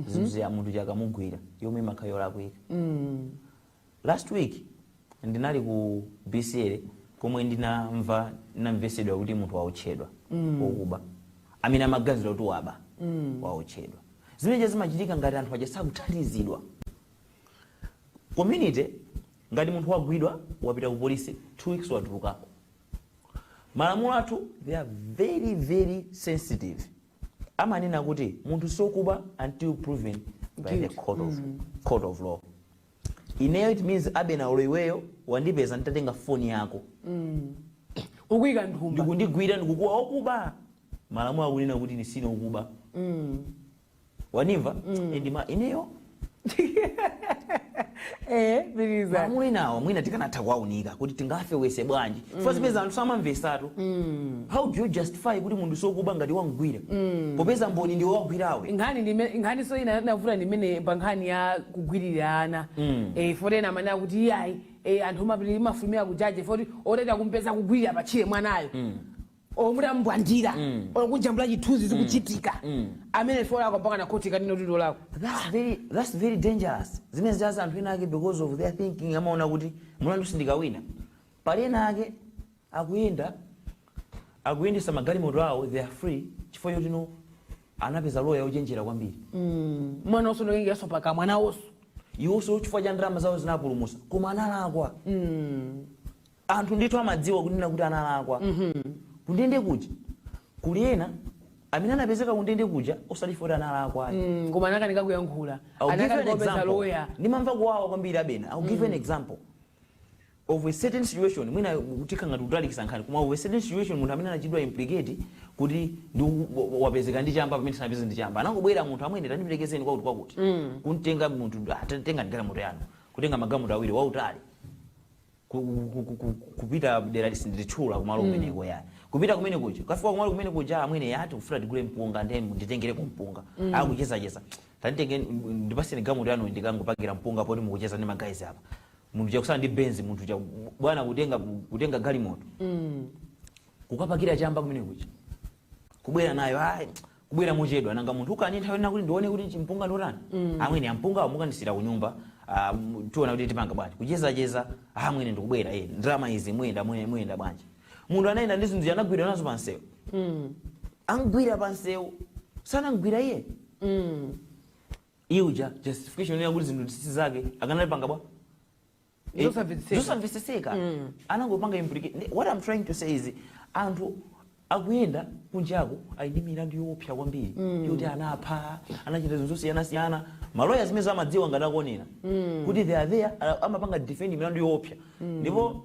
zimzi ya munthu uja akamugwira yomwe imakhala yolakwika Last week ndinali ku BCL komwe ndinamva ndinamvesedwa kuti munthu waotchedwa wokuba amene amaganizidwa kuti waba waotchedwa zimenezo zimachitika ngati anthu aja sakuthandizidwa community ngati munthu wagwidwa wapita ku polisi two weeks watulukako malamulo athu they are very very sensitive amanena kuti munthu sokuba until proven by the court of, court of law Ineyo it means abena olo iweyo wandipeza nditatenga phone yako ukuyika mthumba ndikundigwira ndikukuwa wakuba malamulo akunena kuti ine sine okuba wanimva and ma ineyo eh piliza malamulo enawa mwina tikanatha kuwaunika kuti tingafewese bwanji chifukwa zipeza anthu samamvesatu how do you justify kuti munthu sokuba ngati wamgwira popeza mboni ndiwe wagwirawe nkhani ndime- nkhaninso ina yovuta ndi imene pa nkhani ya kugwirira ana eh, foti ena amanena kuti iyayi eh, anthu omapirira imafumira kujaje foti otati akumpeza kugwirira patchire mwanayo omuti amubwandira okujambula chithunzi zikuchitika amene foti akapanga na khoti kanino tito lako that's very, that's very dangerous zimene zaza anthu ena ake because of their thinking amaona kuti mulandu sindikawina Pali ena ake akuyenda akuyendetsa magalimoto awo they are free chifukwa choti no anapeza loya ochenjera kwambiri mwina nawonso ndi ochenjeranso pakamwa nawonso iwonso chifukwa cha ndalama zawo zinapulumutsa koma analakwa anthu ndithu amadziwa kunena kuti analakwa kundende kuja kuli ena amene anapezeka kundende kuja osati chifukwa kuti analakwa ayi. Mm, koma anakanika kuyankhula I'll give you an anakanika kupeza example. loya ndimamva kuwawa kwambiri abena I'll give you an example of a certain situation mwina tikhala ngati tikutalikisa nkhani koma of a certain situation munthu amene anachitidwa implicate kuti ndi wapezeka ndi chamba pamene sanapeze ndi chamba anangobwera munthu amwene tandiperekezeni kwakuti kwakuti kumtenga munthu ah, te- tengani galimoto yanu kutenga magalimoto awiri wautali ku- ku- ku- ku- kupita dera ili sindilitchula kumalo kumeneko yani kupita kumene kuja kafika kumalo kumene kuja amwene ya tikufuna tigule mpunga ndiye nditengereko mpunga akuchezacheza tanditenge ndipaseni galimoto yanu ndikangopakira mpunga poti mukucheza ndi magayizi apa munthu uja kusala ndi benz munthu uja bwana kutenga kutenga galimoto kukapakira chamba kumene kuja kubwera nayo ayi kubwera mochedwa nanga munthu ukani nthawi ina kuti ndione kuti chimpunga ndotani amwene ampunga mukandisiyira kunyumba ah, m- tiona kuti tipanga bwanji kuchezacheza amwene ndikubwera eh, ndalama izi muyenda mwe- muyenda bwanji munthu anayenda ndi zinthu anamgwira nazo pansewu amgwira pansewu sanamgwira iye Iye uja justification yonena kuti zinthuzi si zake akanalipanga bwa? Eh, Zosamvetsetseka. zosamvetsetseka. Anangopanga implicate. Ndi- What I'm trying to say is anthu akuyenda kunjako ali ndi milandu yoopsa kwambiri yoti anapha anachita zinthu zosiyanasiyana maloya zimenezo amadziwa ngati akuonera kuti they are there a- amapanga defend milandu yoopsa ndipo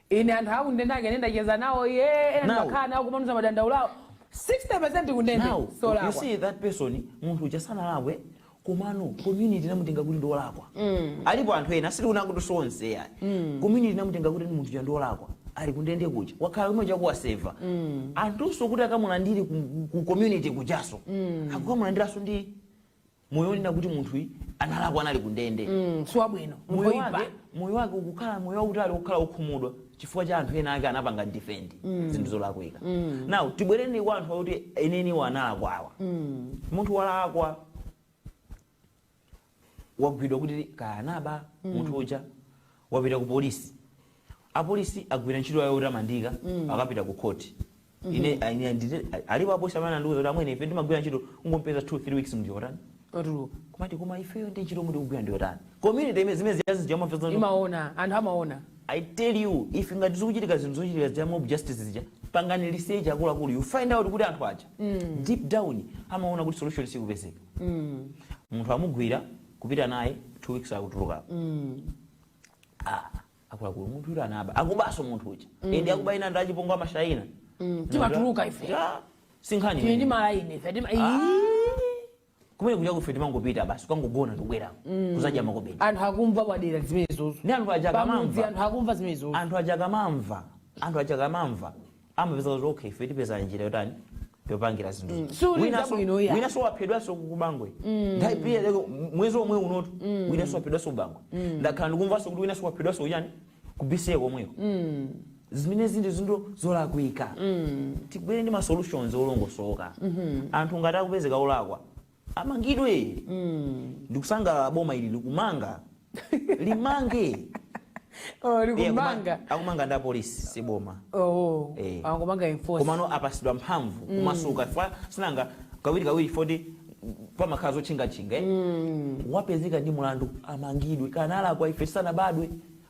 Ine anthu akundende ake ine ndacheza nawo ye ena Now- ndimakhala nawo kumandiuza madandaulo awo 60% kundende now you siolakwa see that person munthu uja sanalakwe komano community inamutenga kuti ndiolakwa alipo anthu ena sitikunena kuti sonse ayi community inamutenga kuti munthu uja ndiolakwa ali kundende kuja wakhala komwe kuja waseva anthunso kuti akamulandire ku, ku community kujaso akukamulandiranso ndi moyo onena kuti munthuyi analakwa anali kundende mm, siwabwino moyo wake moyo wake ukukhala moyo wautali wokhala wokhumudwa chifukwa cha anthu ena ake anapanga defend mm. zinthu zolakwika mm. now tibwereni kwa anthu akuti enieniwo analakwawa mm. munthu walakwa wagwidwa kuti kaya anaba mm. munthu uja wapita ku polisi apolisi agwira ntchito yawo yotamandika mm. akapita ku khoti ine ine ndite alipo apolisi amene andiuza kuti amwene ife timagwira ntchito kungompeza 2 3 weeks munthu uja watani Watuluka. kumati koma ifeyo ndi ntchito yomwe tikugwira ndi yotani community imene zimene zijazi jamafeza imaona anthu amaona I tell you if ngati zikuchitika zinthu zochitika za mob justice zija pangani research akuluakulu you find out kuti anthu aja deep down amaona kuti solution sikupezeka munthu amugwira kupita naye two weeks akutulukapo Ah, akuluakulu munthu woti anaba akubaso munthu uja mm. ende akuba ena ndachipongwe amashaina mm. timatuluka ife yeah. sinkhani tili ndi malaini ife tima ah. kumene kuja kuife timangopita basi kukangogona ndikubwera mm. kuzadya makobidi anthu akumva kumadera zimenezozo ndi anthu ajakamamva anthu akumva zimenezozo anthu ajakamamva anthu ajakamamva amapeza kuti okay ife tipeza njira yotani yopangira zinthu Mm, si uli Winanso- zabwino iya. winanso waphedwanso kubangwe nthawi pia lero m- mwezi omwe unotu winanso waphedwanso kubangwe ndakhala ndikumvanso kuti winanso waphedwanso kuchani kubisiye komweko zimene zindi zinthu zolakwika tibwere ndi ma solutions olongosoka anthu ngati akupezeka olakwa Amangidwe ndikusanga boma ili likumanga limange Oh, Eh, akuma- likumanga akumanga ndi apolisi si boma oh Eh. angomanga enforce komano apasidwa mphamvu kumasuka pa sinanga kawiri kawiri poti pamakhala zotchingatchinga eh? wapezeka ndi mulandu amangidwe kanalakwa ife tisanabadwe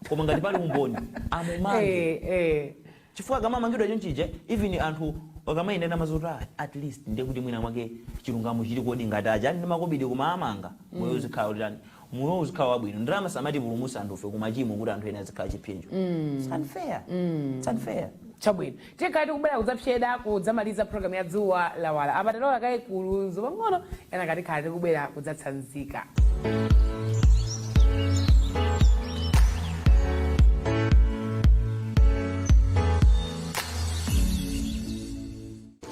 koma ngati pali umboni amumange eh eh Chifukwa akamamangidwa chonchija even anthu akamayenda amaziwa kuti aah at least ndiye kuti mwina mwake chilungamo chilikodi ngati aja ali ndi makobidi koma amanga moyo uzikhala otani moyo uzikhala wabwino ndalama samatipulumutsa anthufe ku machimo kuti anthu ena azikhala chipsinjo it's unfair it's unfair chabwino tikhala tikubwera kudzapseda kudzamaliza program ya dzuwa lawala apa tilowe kaye ku lunzu pang'ono kenaka tikhala tikubwera kudzatsanzika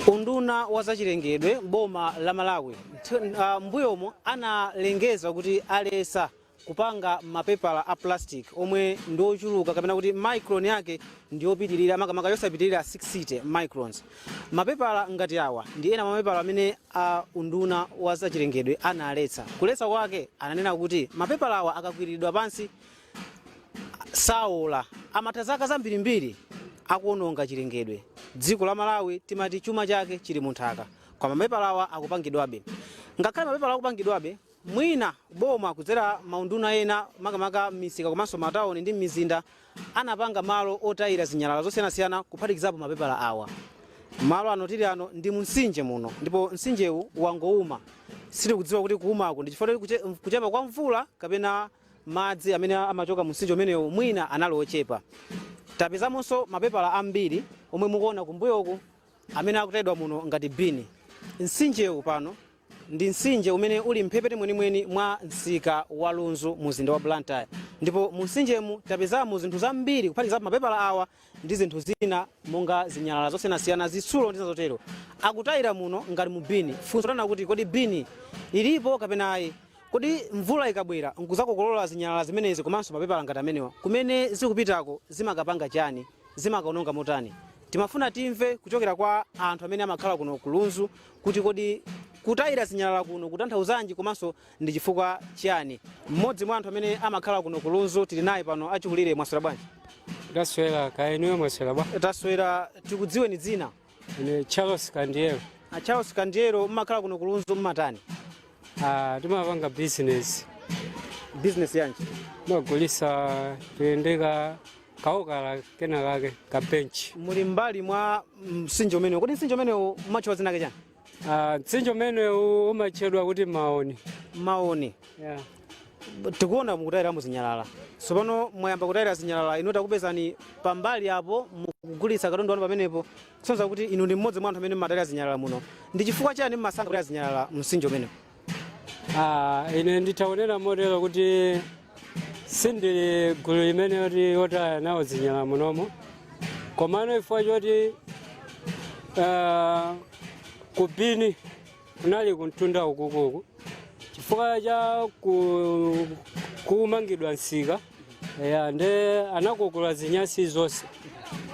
unduna wa zachilengedwe boma la malawi ntho- ah, mbuyomo analengeza kuti aletsa kupanga mapepala a plastic omwe ndi ochuluka kapena kuti micron yake ndi yopitirira makamaka yosapitirira 60 microns mapepala ngati awa ndi ena mwa mapepala amene a unduna wa zachilengedwe analetsa kuletsa kwake ananena kuti mapepala awa akakwiriridwa pansi saola amatha zaka zambirimbiri akuononga chilengedwe dziko la malawi timati chuma chake chili munthaka koma mapepalawa akupangidwabe ngakhale mapepala akupangidwabe Mwina boma kudzera maunduna ena makamaka m'misika komanso matauni ndi m'mizinda anapanga malo otayira zinyalala zosiyanasiyana kuphatikizapo mapepala awa. Malo ano tili ano ndi munsinje muno ndipo nsinjewu wangouma. Sitikudziwa kuti kuumaku ndi chifukwa choti kuchepa kwa mvula kapena madzi amene amachoka munsinje umenewu mwina anali ochepa. Tapezamonso mapepala ambiri omwe mukuona kumbuyoku amene akutayidwa muno ngati bini. Nsinjewu pano Ndi mtsinje umene uli m'mphepete mwenimweni mwa msika wa Lunzu mu mzinda wa Blantyre ndipo mu mtsinjemu tapezamo zinthu zambiri kuphatikizapo mapepala awa ndi zinthu zina monga zinyalala zosiyanasiyana, zitsulo ndi zina zotero. Akutayira muno ngati mu bini. Funso ndi lakuti kodi bini ilipo kapena ayi? Kodi mvula ikabwera n'kudzakokolola zinyalala zimenezi komanso mapepala ngati amenewa, kumene zikupitako zimakapanga chani? Zimakaononga motani? Timafuna timve kuchokera kwa anthu amene amakhala kuno ku Lunzu kuti kodi kutayira zinyalala kuno kutanthauzanji komanso ndi chifukwa chiyani. Mmodzi mwa anthu amene amakhala kuno ku Lunzu tili naye pano achikulire mwaswera bwanji? Taswera kaya inuyo mwaswera bwa? Taswera tikudziweni dzina? Ine Charles Kandiero. A Charles Kandiero mmakhala kuno ku Lunzu mmatani? Ah, timapanga business business yanji timagulitsa kuyendeka kaokala kena kake ka bench muli mbali mwa msinje umenewu kodi msinje umenewu umatchedwa dzina chani Ah, mtsinje umenewu umatchedwa kuti maoni maoni yeah. tikuona mukutayiramo zinyalala tsopano mwayamba kutayira zinyalala inu takupezani pambali apo mukugulitsa katundu wanu pamenepo Kusonyeza kuti inu ndi mmodzi mwa anthu amene mumatayira zinyalala muno, ndi chifukwa chiyani mumasankha kutaya zinyalala mu msinje umenewu? Ah, ine nditha kunena motero kuti sindili gulu limene yoti otaya nawo zinyalala munomo komano chifukwa choti ah, ku bini kunali kumtunda ukukuku chifukwa cha ku- kumangidwa kwa msika ya nde anakokola zinyasi zonse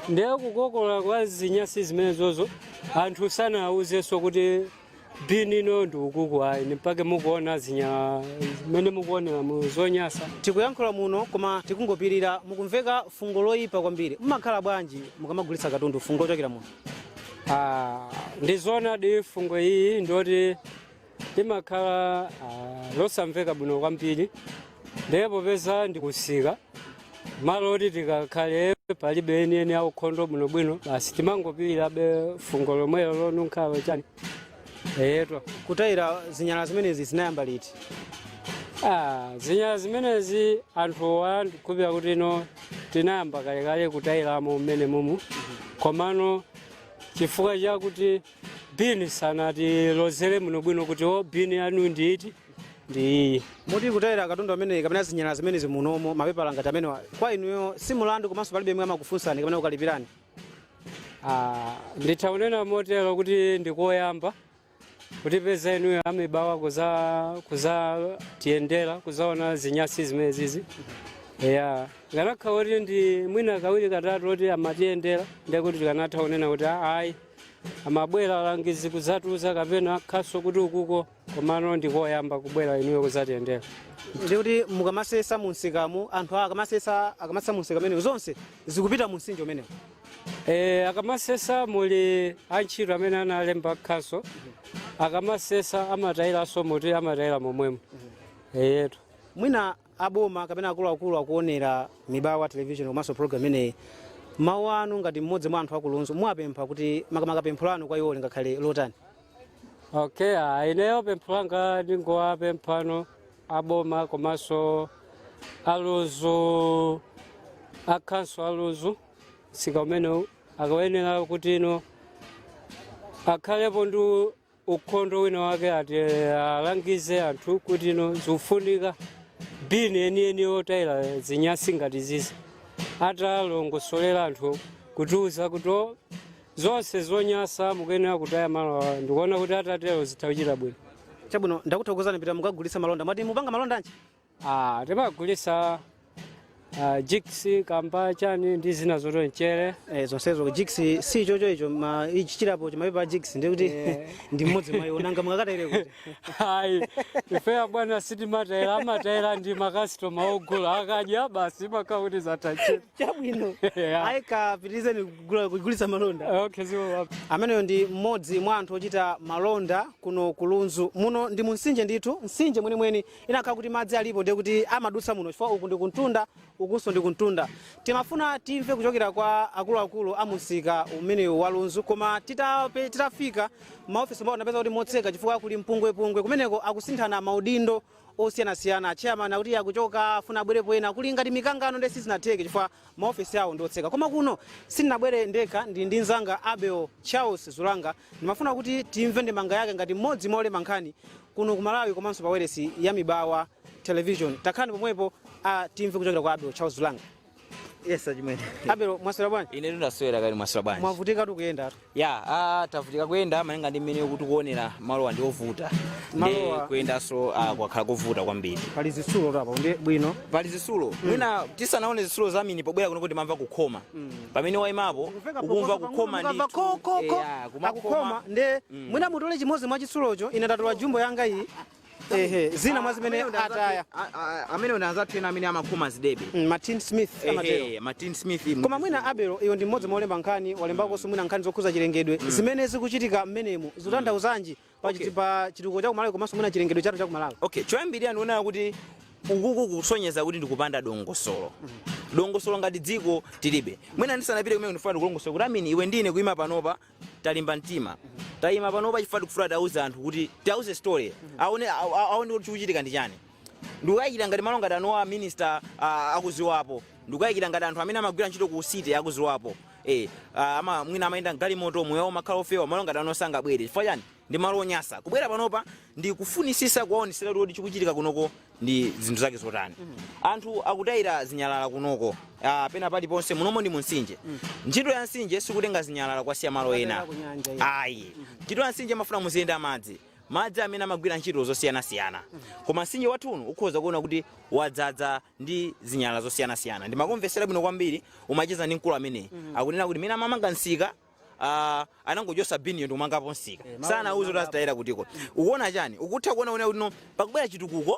nde kukokola kwa zinyasi zimenezozo anthu sanawuzenso kuti bini ino ndi ukuku ayi ni mpake mukuona zinyalala zimene mukuonera mu zonyasa tikuyankhula muno koma tikungopirira mukumveka fungo loyipa kwambiri mumakhala bwanji mukamagulitsa katundu fungo lochokera muno Ah, ndi zoonadi fungo ili ndoti limakhala ah, losamveka bwino kwambiri ndiye popeza ndikusika malo oti tikakhale palibe enieni aukhondo bwinobwino basi timangopirirabe fungo lomwelo lonunkhalo chani eyetu kutayira zinyalala zimenezi zinayamba liti Ah, zinyalala zimenezi anthu ndikhulupira kuti ino tinayamba kalekale kutayiramo mmene mumu komano chifukwa chakuti bini sanatilozere bwinobwino kuti o bini yanu ndi iti ndi iyi moti kutayira katundu ameneyi kapena zinyalala zimenezi munomo mapepala ngati amenewa kwa inuyo si mulandu komanso palibe yemwe amakufunsani kapena kukalipirani Ah, nditha kunena motero kuti ndikoyamba kutipeza inuyo a Mibawa kuza kuzatiyendera kuzaona zinyasi zimenezizi ya ikanakhala kuti ndi mwina kawiri katatu koti amatiyendera ndiye kuti tikanatha kunena kuti "Ah, ayi amabwera alangizi kuzatiuza kapena khonsolo kuti ukuko komano ndikoyamba kubwera inuyo kuzatiyendera ndikuti mukamasesa munsikamu anthu akamasesa akamasesa munsika umenewu zonse zikupita munsinje umenewu e, akamasesa muli antchito amene analemba khonsolo akamasesa amatayiranso moti amatayira momwemo eyetu mwina aboma kapena akuluakulu akuonera mibawa television komanso program imeneyi mawu anu ngati mmodzi mwa anthu akulunzu muwapempha kuti makamaka pempho lanu kwa iwo lingakhale lotani okay ah, ineyo pempho langa ndingowapemphano aboma komanso alunzu akhanso alunzu sika umenewu akayenera kuti ino akhalepo ndi ukhondo wina wake ati alangize anthu kuti ino zikufunika bini enieni otayira zinyasi ngati zizi atalongosolera anthu kutiuza kuti o, zonse zonyasa mukuyenera kutaya malo awa ndikuona kuti atatero zitha kuchita bwino chabwino ndakuthokozani pitani mukagulitse malonda mwati mupanga malonda anji Ah, timagulisa uh, jigs kamba chani ndi zina zotonchere Eh, zonsezo jigs si chocho icho ma ichi chilipo chimapepala jigs ndiye kuti Yeah. ndi mmodzi mwa iwo nanga mukakatayire kuti ayi ife a bwana sitimatayira amatayira ndi makasitoma ogula akadya basi mapaketi zatayira chabwino Yeah. ayi kapitirizeni kugula- kugulitsa malonda okay ziwani ameneyo ndi mmodzi mwa anthu ochita malonda kuno ku lunzu muno ndi mumtsinje ndithu mtsinje mwenimweni ikanakhala kuti madzi alipo ndiye kuti amadutsa muno chifukwa uku ndi kumtunda ukunso ndi kumtunda timafuna timve kuchokera kwa akuluakulu a mumsika umenewu wa lunzu koma titape- titafika maofesi mwawo tinapeza kuti motseka chifukwa kuli mpungwepungwe kumeneko akusinthana maudindo osiyanasiyana chairman akuti akuchoka afuna abwerepo ena kuli ngati mikangano ndiye sizinatheke chifukwa maofesi awo ndi otseka koma kuno sindinabwere ndekha ndili ndi mzanga abel charles zulanga Ndimafuna kuti timve ndemanga yake ngati mmodzi mwa olemba nkhani kuno ku Malawi komanso pa wailesi ya Mibawa Television. Takhalani pomwepo a timve kuchokera kwa Abel Charles Zulanga. Yes, achimwene. Abel, mwaswera bwanji? Ine ndaswera kaya mwaswera bwanji. Mwavutikatu kuyendatu. Ya, ah, tavutika kuyenda malinga ndi mmene tikuonera malowa ndi ovuta. Ndi Malowa- kuyendanso ah, kwakhala kovuta kwambiri. Pali zitsulotu apa, ndi bwino. Pali zitsulo. Mwina tisanaone zitsulo za Amini pobwera kuno timamva kukhoma. pamene waimapo Likumveka ukumva phokoso pang'ono, kukhoma mukamva ndithu ko, ko, ko, Eya, kumakhala. akukhoma nde mwina mutole chimodzi mwa chitsulocho ine ndatola jumbo yanga iyi ehe zina mwa zimene Amene anza- ataya a- a- amene anzathu ena amene amakhoma zidebe Mm, ma tinsmith amatero Ehe, ma tinsmith mu- koma mwina abel iwe ndi mmodzi mwa olemba nkhani walembakonso mwina nkhani zokhuza chilengedwe zimene zikuchitika mmenemu zikutanthauzanji pa Okay. chiti- pa chitukuko cha kumalawi komanso mwina chilengedwe chathu cha kumalawi okay choyambirira ndikuonera kuti ukuku kusonyeza kuti ndikupanda dongosolo dongosolo ngati dziko tilibe mwina ndisanapite kumene ndifuna ndikulongosole kuti amini iwe ndi ine kuima panopa talimba mtima tayima panopa chifukwa tikufuna tiauze anthu kuti tiauze story aone a- a- aone kuti chikuchitika ndi chani ndikukayikira ngati malo ngati anowa minister ah, akuziwapo ndikukayikira ngati anthu amene amagwira ntchito ku city akuziwapo eh, ah, ama, mwina amayenda mgalimoto muyawo mumakhala ofewa malo ngati anowa sangabwere chifukwa chani ndi malo onyasa kubwera panopa ndi kufunisisa kuwaonesera kuti chikuchitika kunoko ndi zinthu zake zotani anthu akutayira zinyalala kunoko ah, pena paliponse munomo ndi munsinje ntchito ya nsinje sikutenga zinyalala kukasiya malo ena Kunyanja, yeah. ayi ntchito ya nsinje amafuna muziyenda madzi madzi amene amagwira ntchito zosiyanasiyana koma mtsinje wathu uno ukhoza kuona kuti wadzadza ndi zinyalala zosiyanasiyana ndimakumvetsera bwino kwambiri umacheza ndi mkulu ameneyi akunena kuti mene amamanga msika ah, anangochosa biniyo ndikumangapo msika sanauze kuti azitayira kutiko ukuona chani ukutha kuona kuona kuti no pakubwera chitukuko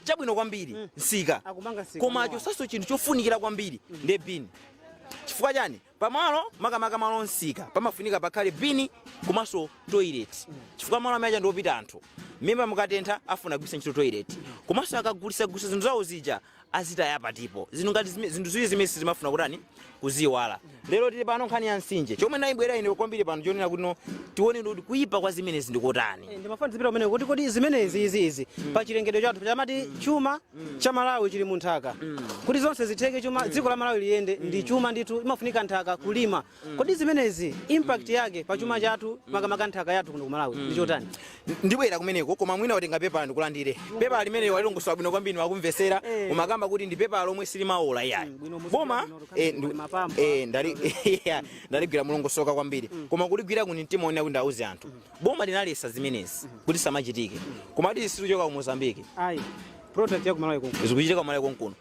chabwino kwambiri nsika Akumanga nsika koma mwa. achosaso chinthu chofunikira kwambiri ndi bini chifukwa chani pamalo makamaka malo nsika pamafunika pakhale bini komanso toilet chifukwa malo amene uja ndiopita anthu mimba mukatentha afuna kugwiritsa ntchito toilet komanso akagulisagulisa zinthu zawo zija azitaya patipo zinthu ngati zime- zinthu ziwiri zimene sizimafuna kutani kuziiwala lero tili pano nkhani ya msinje chomwe ndayibwera ine kwambiri pano chonena kuti no tione kuti kuyipa kwa zimenezi ndikotani Eh, ndimafuna zipita kumene kuti kodi zimenezi izi izi pa chilengedwe chathu chamati chuma cha malawi chili mu nthaka kuti zonse zitheke chuma dziko la malawi liyende ndi chuma ndithu imafunika nthaka kulima kodi zimenezi impact yake pa chuma chathu makamaka nthaka yathu kuno ku malawi ndi chotani ndibwera kumeneko koma mwina watenga pepala ndikulandire pepala limene walilongosola bwino kwambiri ndimakumvesera umakamba kuti ndi pepala lomwe silimaola iyayi boma eh, ndi- eh, ndali- yeah, ndaligwira mulongosoka kwambiri koma kuligwira ku ndi mtima onena kuti ndauze anthu boma linalesa zimenezi kuti zisamachitike koma kuti sizichoka ku mozambique ayi product ya kumalawi konkuno zikuchitika kumalawi konkuno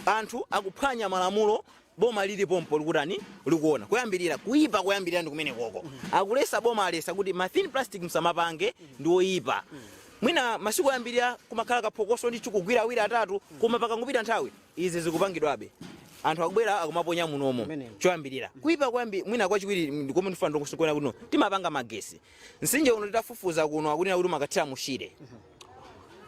anthu akuphwanya malamulo boma lili pompo likutani likuona koyambirira kuipa koyambirira ndi kumenekoko akulesa boma alesa kuti ma thin plastic msamapange ndi oyipa mwina masiku oyambirira kumakhala kaphokoso ndithu kugwira awiri atatu koma pakangopita nthawi izi zikupangidwabe anthu akubwera akumaponya munomo Kumeneko. choyambirira kuipa kwambi mwina kwachiwiri ndi komwe ndifuna ndikuona kuti no, timapanga magesi Mtsinje uno titafufuza kuno akunena kuti umakathira mu Shire.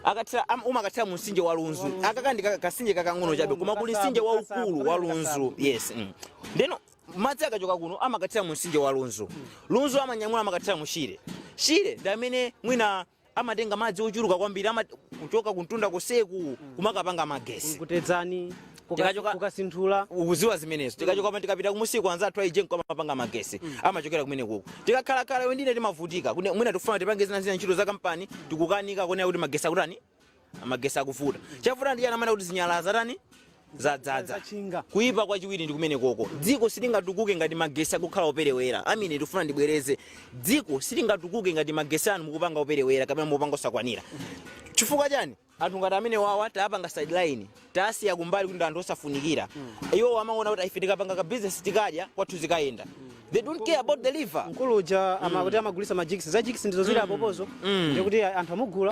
Akathira am- umakathira mu mtsinje wa Lunzu. Akaka ndi ka- kasinje kakang'ono chabe koma kuli mtsinje waukulu wa Lunzu. Yes. Mm. Ndeno madzi akachoka kuno amakathira mu mtsinje wa Lunzu. Lunzu amanyamula amakathira mu Shire. Shire ndi amene mwina amatenga madzi ochuluka kwambiri ama kuchoka kumtunda koseku kumakapanga magesi kutedzani Tikachoka- ku Kapichira ukuziwa zimenezo tikachoka pamene tikapita kumusiko anzathu a EGENCO amapanga magesi amachokera kumenekuko tikakhalakhala iwe ndine timavutika Kune- mwina tikufuna tipange zina zina ntchito za kampani tikukanika kuona kuti magesi akutani Magesi akuvuta. Chavuta ndi chani amanena kuti zinyalala zatani? Zadzadza. Zachinga. Kuipa kwachiwiri ndi kumenekoko. Dziko silingatukuke ngati magesi akukhala operewera. Amene ndikufuna ndibwereze. Dziko silingatukuke ngati magesi anu mukupanga operewera kapena mukupanga osakwanira. Chifukwa chani? Anthu ngati amenewawa tawapanga sideline. tasiya kumbali kuti ndi anthu osafunikira iwowo amaona kuti ife tikapanga ka business tikadya kwathu zikayenda they don't care about the river mkulu uja amakuti amagulisa majigisi za jigisi ndizo zili apopozo ndikuti anthu amugula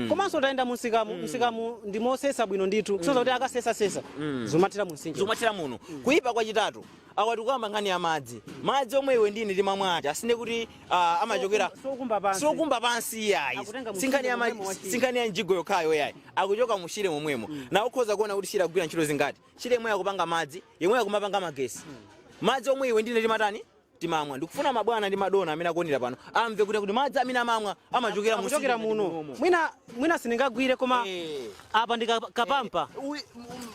komanso utayenda munsikamu msikamu ndi mosesa bwino ndithu kusoza kuti akasesasesa zimathira munsinje zikumathira muno kuyipa kwachitatu Awa tikukamba nkhani ya madzi. Madzi omwe iwe ndi ine timamwa aja si ndiye kuti ah, amachokera Si okumba pansi. si okumba pansi iyayi Akutenga mu si nkhani ya shire ma- momwemo wa shire. si nkhani ya mjigo yokhayo iyayi akuchoka mu shire momwemo na ukhoza kuona kuti shire akugwira ntchito zingati shire yemwe akupanga madzi yemwe akumapanga magesi madzi omwe iwe ndine timatani timamwa ndikufuna mabwana ndi madona amene akuonera pano amve kuti kuti madzi amene amamwa amachokera mu Akuchokera shire muno. Mwina mwina sindingagwire koma Eh. Apa ndi ka, kapampa. Eh, ui,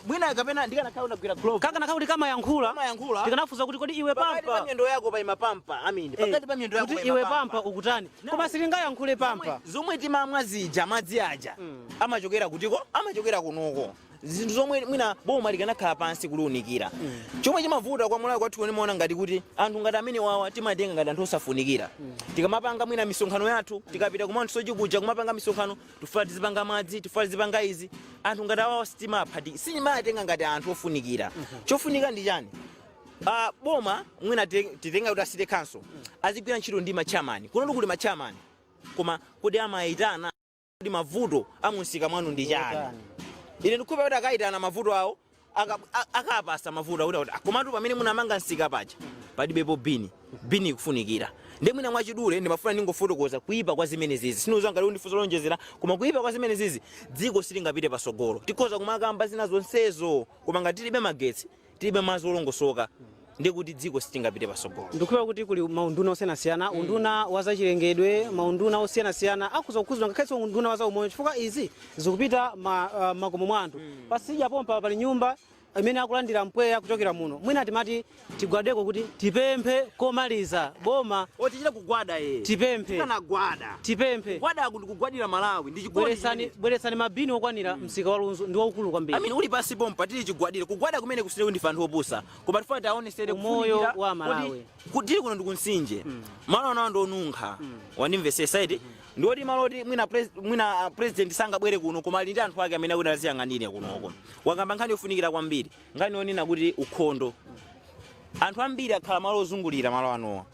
mwina kapena ndikanakhala ndagwira glove. Kakanakhala kuti kamayankhula. Kamayankhula. Ndikanafunsa kuti kodi iwe pampa. Pakati pa miyendo yako pa ima pampa. Amini. Eh, Pakati pa miyendo yako pa ima pampa. Kuti iwe pampa ukutani? No. Koma silingayankhule pampa. Zomwe timamwa zija madzi aja. Mm. Amachokera kutiko? Amachokera kunoko. zinthu zomwe mwina boma likanakhala pansi kuliunikira mm. chomwe chimavuta kwa Malawi kwathu kuno ndimaona ngati kuti anthu ngati amene wawa timatenga ngati anthu osafunikira mm. tikamapanga mwina misonkhano yathu tikapita kumanthu sochi kuja kumapanga misonkhano Tifuna tizipanga madzi, tifuna tizipanga izi. Anthu ngati awawa sitimawapatsa, sitimawatenga ngati anthu ofunikira. Chofunika ndi chani? Ah, boma mwina ti- titenga kuti a city council azigwira ntchito ndi ma chairman. Kunotu kuli ma chairman. Koma kodi amayitana kuti mavuto a munsika mwanu ndi chani? Ine ndikukhulupirira kuti akayitana mavuto awo aka a- akapatsa mavuto akuti akuti, "Ah, komatu pamene munamanga msika paja palibepo bini bini ikufunikira ndi mwina mwachidule ndimafuna ndingofotokoza kuipa kwa zimene zizi sindidziwa ngati undifunsa zowonjezera koma kuipa kwa zimene zizi dziko silingapite pasogolo tikhoza kumakamba zina zonsezo koma ngati tilibe magetsi tilibe madzi olongosoka ndiye kuti dziko silingapite pasogolo ndikukhulupirira kuti kuli maunduna osiyanasiyana unduna wa zachilengedwe maunduna osiyanasiyana akhuza kukhuzidwa ngakhalenso unduna wa zaumoyo chifukwa izi zikupita ma, ah, makomo mwa anthu patsidya pompa pali nyumba imene akulandira mpweya kuchokera muno mwina timati tigwadeko kuti tipemphe komaliza boma oti tichita kugwada ye tipemphe tikanagwada tipemphe gwada kuti kugwadira malawi ndi chigwadi bweretsani bweretsani mabini okwanira msika wa lunzu ndi waukulu kwambiri amene uli pansi pompa tili chigwadire kugwada kumene kuti si ndife anthu opusa koma tifuna tiwaonetsere Umoyo kufunikira wa kuti- Malawi. kuti tili kuno ndikunsinje malo anowa ndionunkha wandimvesesa iti ndioti malo oti mwina pres- mwina ah, president sangabwere kuno koma ali ndi anthu ake amene akuti aziyang'anire kunoko wakamba nkhani yofunikira kwambiri nkhani yonena kuti ukhondo anthu ambiri akhala malo ozungulira malo anowa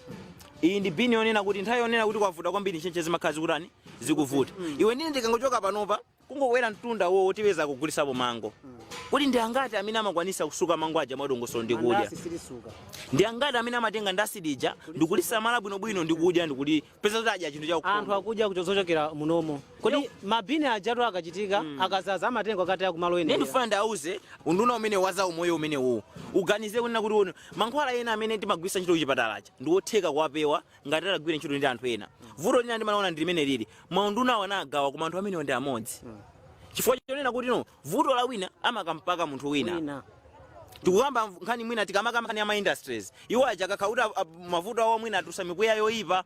iyi ndi bini yonena kuti nthawi yonena kuti kwavuta kwambiri ntchentche zimakhala zikutani zikuvuta iwe ndine ndikangochoka panopa Kungokwera mtunda uwo otipeza akugulisapo mango. Kodi ndi angati amene amakwanisa kusuka mango aja mwadongosolo ndi kudya? Mandasi silisuka. Ndi angati amene amatenga ndasi lija ndikulisamala bwino bwino ndi kudya ndi kutipeza kuti adya chinthu cha ukhondo? Anthu akudya kuchochokera munomo. Kodi ma bin ajatu akachitika, akazaza amatenga akataya ku malo Ndiye oyenera. ndikufuna ndiauze unduna umene wa za umoyo umene uwu uganize kunena kuti mankhwala ena amene timagwiritsa ntchito kuchipatala aja ndi otheka kuwapewa ngati atagwira ntchito ndi anthu ena vuto lina ndimaona ndi limene lili maundunawo anagawa koma anthu amenewo ndi amodzi chifukwa chonena kuti no vuto la wina amakampaka munthu wina tikukamba nkhani mwina tikamaka nkhani ya ma industries iwo aja kakhakuti mavuto awo mwina atusa mipweya yoyipa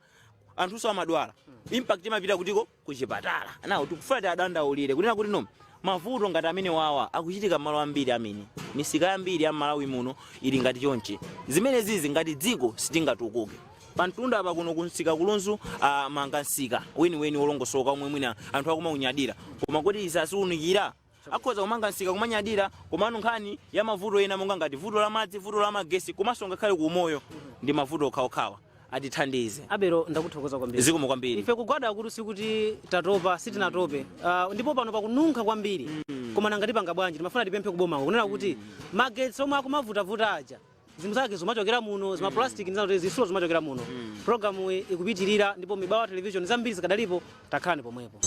anthunso amadwala impact imapita kuti ko kuchipatala. Now tikufuna tiadandaulire kunena kuti no mavuto ngati amenewawa akuchitika mmalo ambiri amene misika yambiri ya mmalawi muno ili ngati chonchi zimenezizi ngati dziko sitingatukuke pamtunda apa kuno kumsika kulunzu mmanga msika weniweni wolongosoka omwe mwina anthu akumaunyadira koma kuti izi asaziunikira Akhoza kumanga msika kumanyadira komano nkhani ya mavuto ena monga ngati vuto la madzi, vuto la magetsi komanso ngakhale ku umoyo ndi mavuto okhaokhawa. Atithandize. Abelo ndakuthokoza kwambiri. Zikomo kwambiri. Ife kugwada akutu sikuti tatopa sitinatope Ah, ndipo pano pakununkha kwambiri koma nanga tipanga bwanji timafuna tipemphe kubomako kunena kuti magetsi omwe akumavutavuta aja zinthu zake zimachokera muno zimaplastic ndi zinazo zitsulo zimachokera muno programu iyi ikupitirira ndipo mibawa television zambiri zikadalipo tangokhalani pomwepo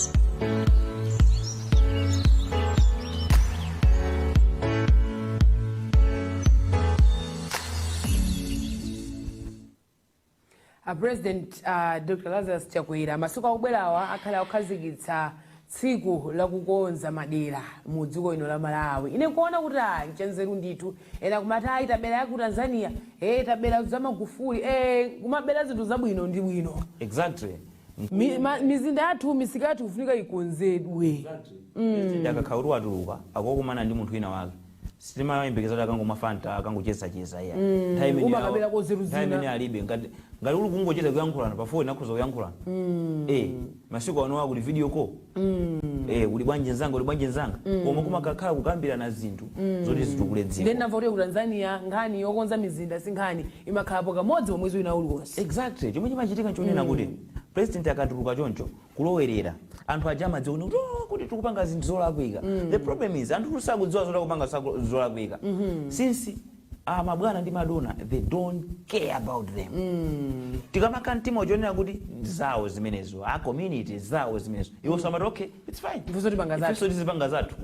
A President a Dr Lazarus Chakwera masiku akubwerawa akhale akukhazikitsa tsiku la kukonza madera mu dziko lino la Malawi. Ine nkuona kuti ah nchanzeru ndithu. Ena kumati ayi tabera ya ku Tanzania, eh tabera za Magufuli, eh kumabera zinthu zabwino ndi bwino. exactly Mi, ma, mizinda yathu misika yathu kufunika ikonzedwe. nde akakhala watuluka akokumana ndi munthu wina wake sitimayembekeza kuti akangomwa fanta akangochezacheza iya umakaberako nzeru zina imene alibe ngati uli kungocheza kuyankhulana pa foni akhoza kuyankhulana eh masiku ano akuti video call eh uli bwanji nzanga uli bwanji nzanga koma kumakakhala kukambirana zinthu zoti zitukule dziko then ndamva kuti ku tanzania nkhani yokonza mizinda si nkhani imakhalapo kamodzi pa mwezi wina uliwonse exactly chomwe chimachitika nchonena kuti president akatuluka choncho kulowerera anthu aja amadziwa kuti "Oh, tikupanga zinthu zolakwika the problem is anthu sakudziwa zoti akupanga zolakwika since ah, mabwana ndi madona they don't care about them ndikamakam'dima chooneka kuti zawo zimenezo a community zawo zimenezo iwo samati okay it's fine Ifenso tizipanga zathu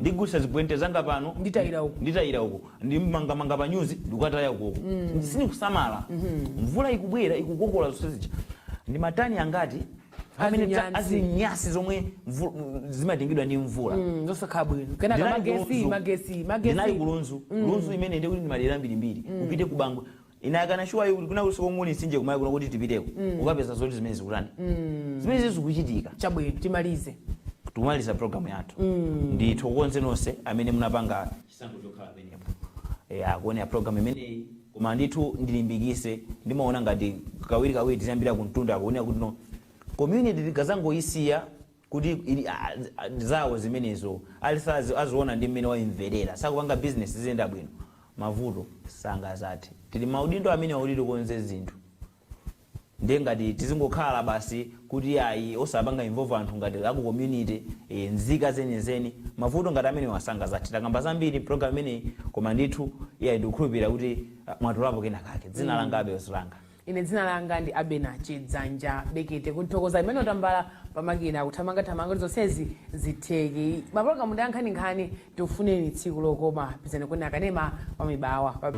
ndigulisa zibwente zanga pano nditayira uko ndimmangamanga panyuzi ndikukataya ukoko sindikusamala mvula ikubwera ikukokolola zonse zija ndi matani angati amene ta- Azinyasi. azinyasi zomwe mvu- m- zimatengedwa ndi mvula Mm, zosakhala bwino kenako Ndinali magesi ku Lunzu. magesi magesi ndinali ku Lunzu Lunzu imene ndikuti ndi madera mbirimbiri upite ku Bangwe Ine I can assure you kuti kwinakulikonse komwe kuli mtsinje kumayi kuno kuti tipiteko ukapeza zoti zimene zikutani zimenezi zikuchitika. chabwino timalize tikumaliza program yathu ndithokoze nonse amene munapanga chisankho chokhala pamenepo Eh, akuonera program imeneyi koma ndithu ndilimbikise ndimaona ngati kawirikawiri tiziyambira kumtunda akuonera kuti no community tikazangoisiya kuti zawo zimenezo ali sazi aziona ndi mmene waimverera sakupanga business ziziyenda bwino mavuto sangazathe tili maudindo amenewa kuti tikonze zinthu ndiye ngati tizingokhala basi kuti ayi osapanga involve anthu ngati aku community e, nzika zenizeni mavuto ngati amenewa sangazathe takamba zambiri program imeneyi koma ndithu iyayi ndikukhulupirira kuti ah, mwatolapo kena kake dzina langa Abel Silanga Ine dzina langa ndi Abena Chidzanja Bekete kuthokoza Emmanuel Tambala pamakina kuthamangathamanga kuti zonsezi zitheke. Mapologalamu ndi ankhaninkhani tikufunireni tsiku lokoma pezani kweni akanema wa Mibawa pa.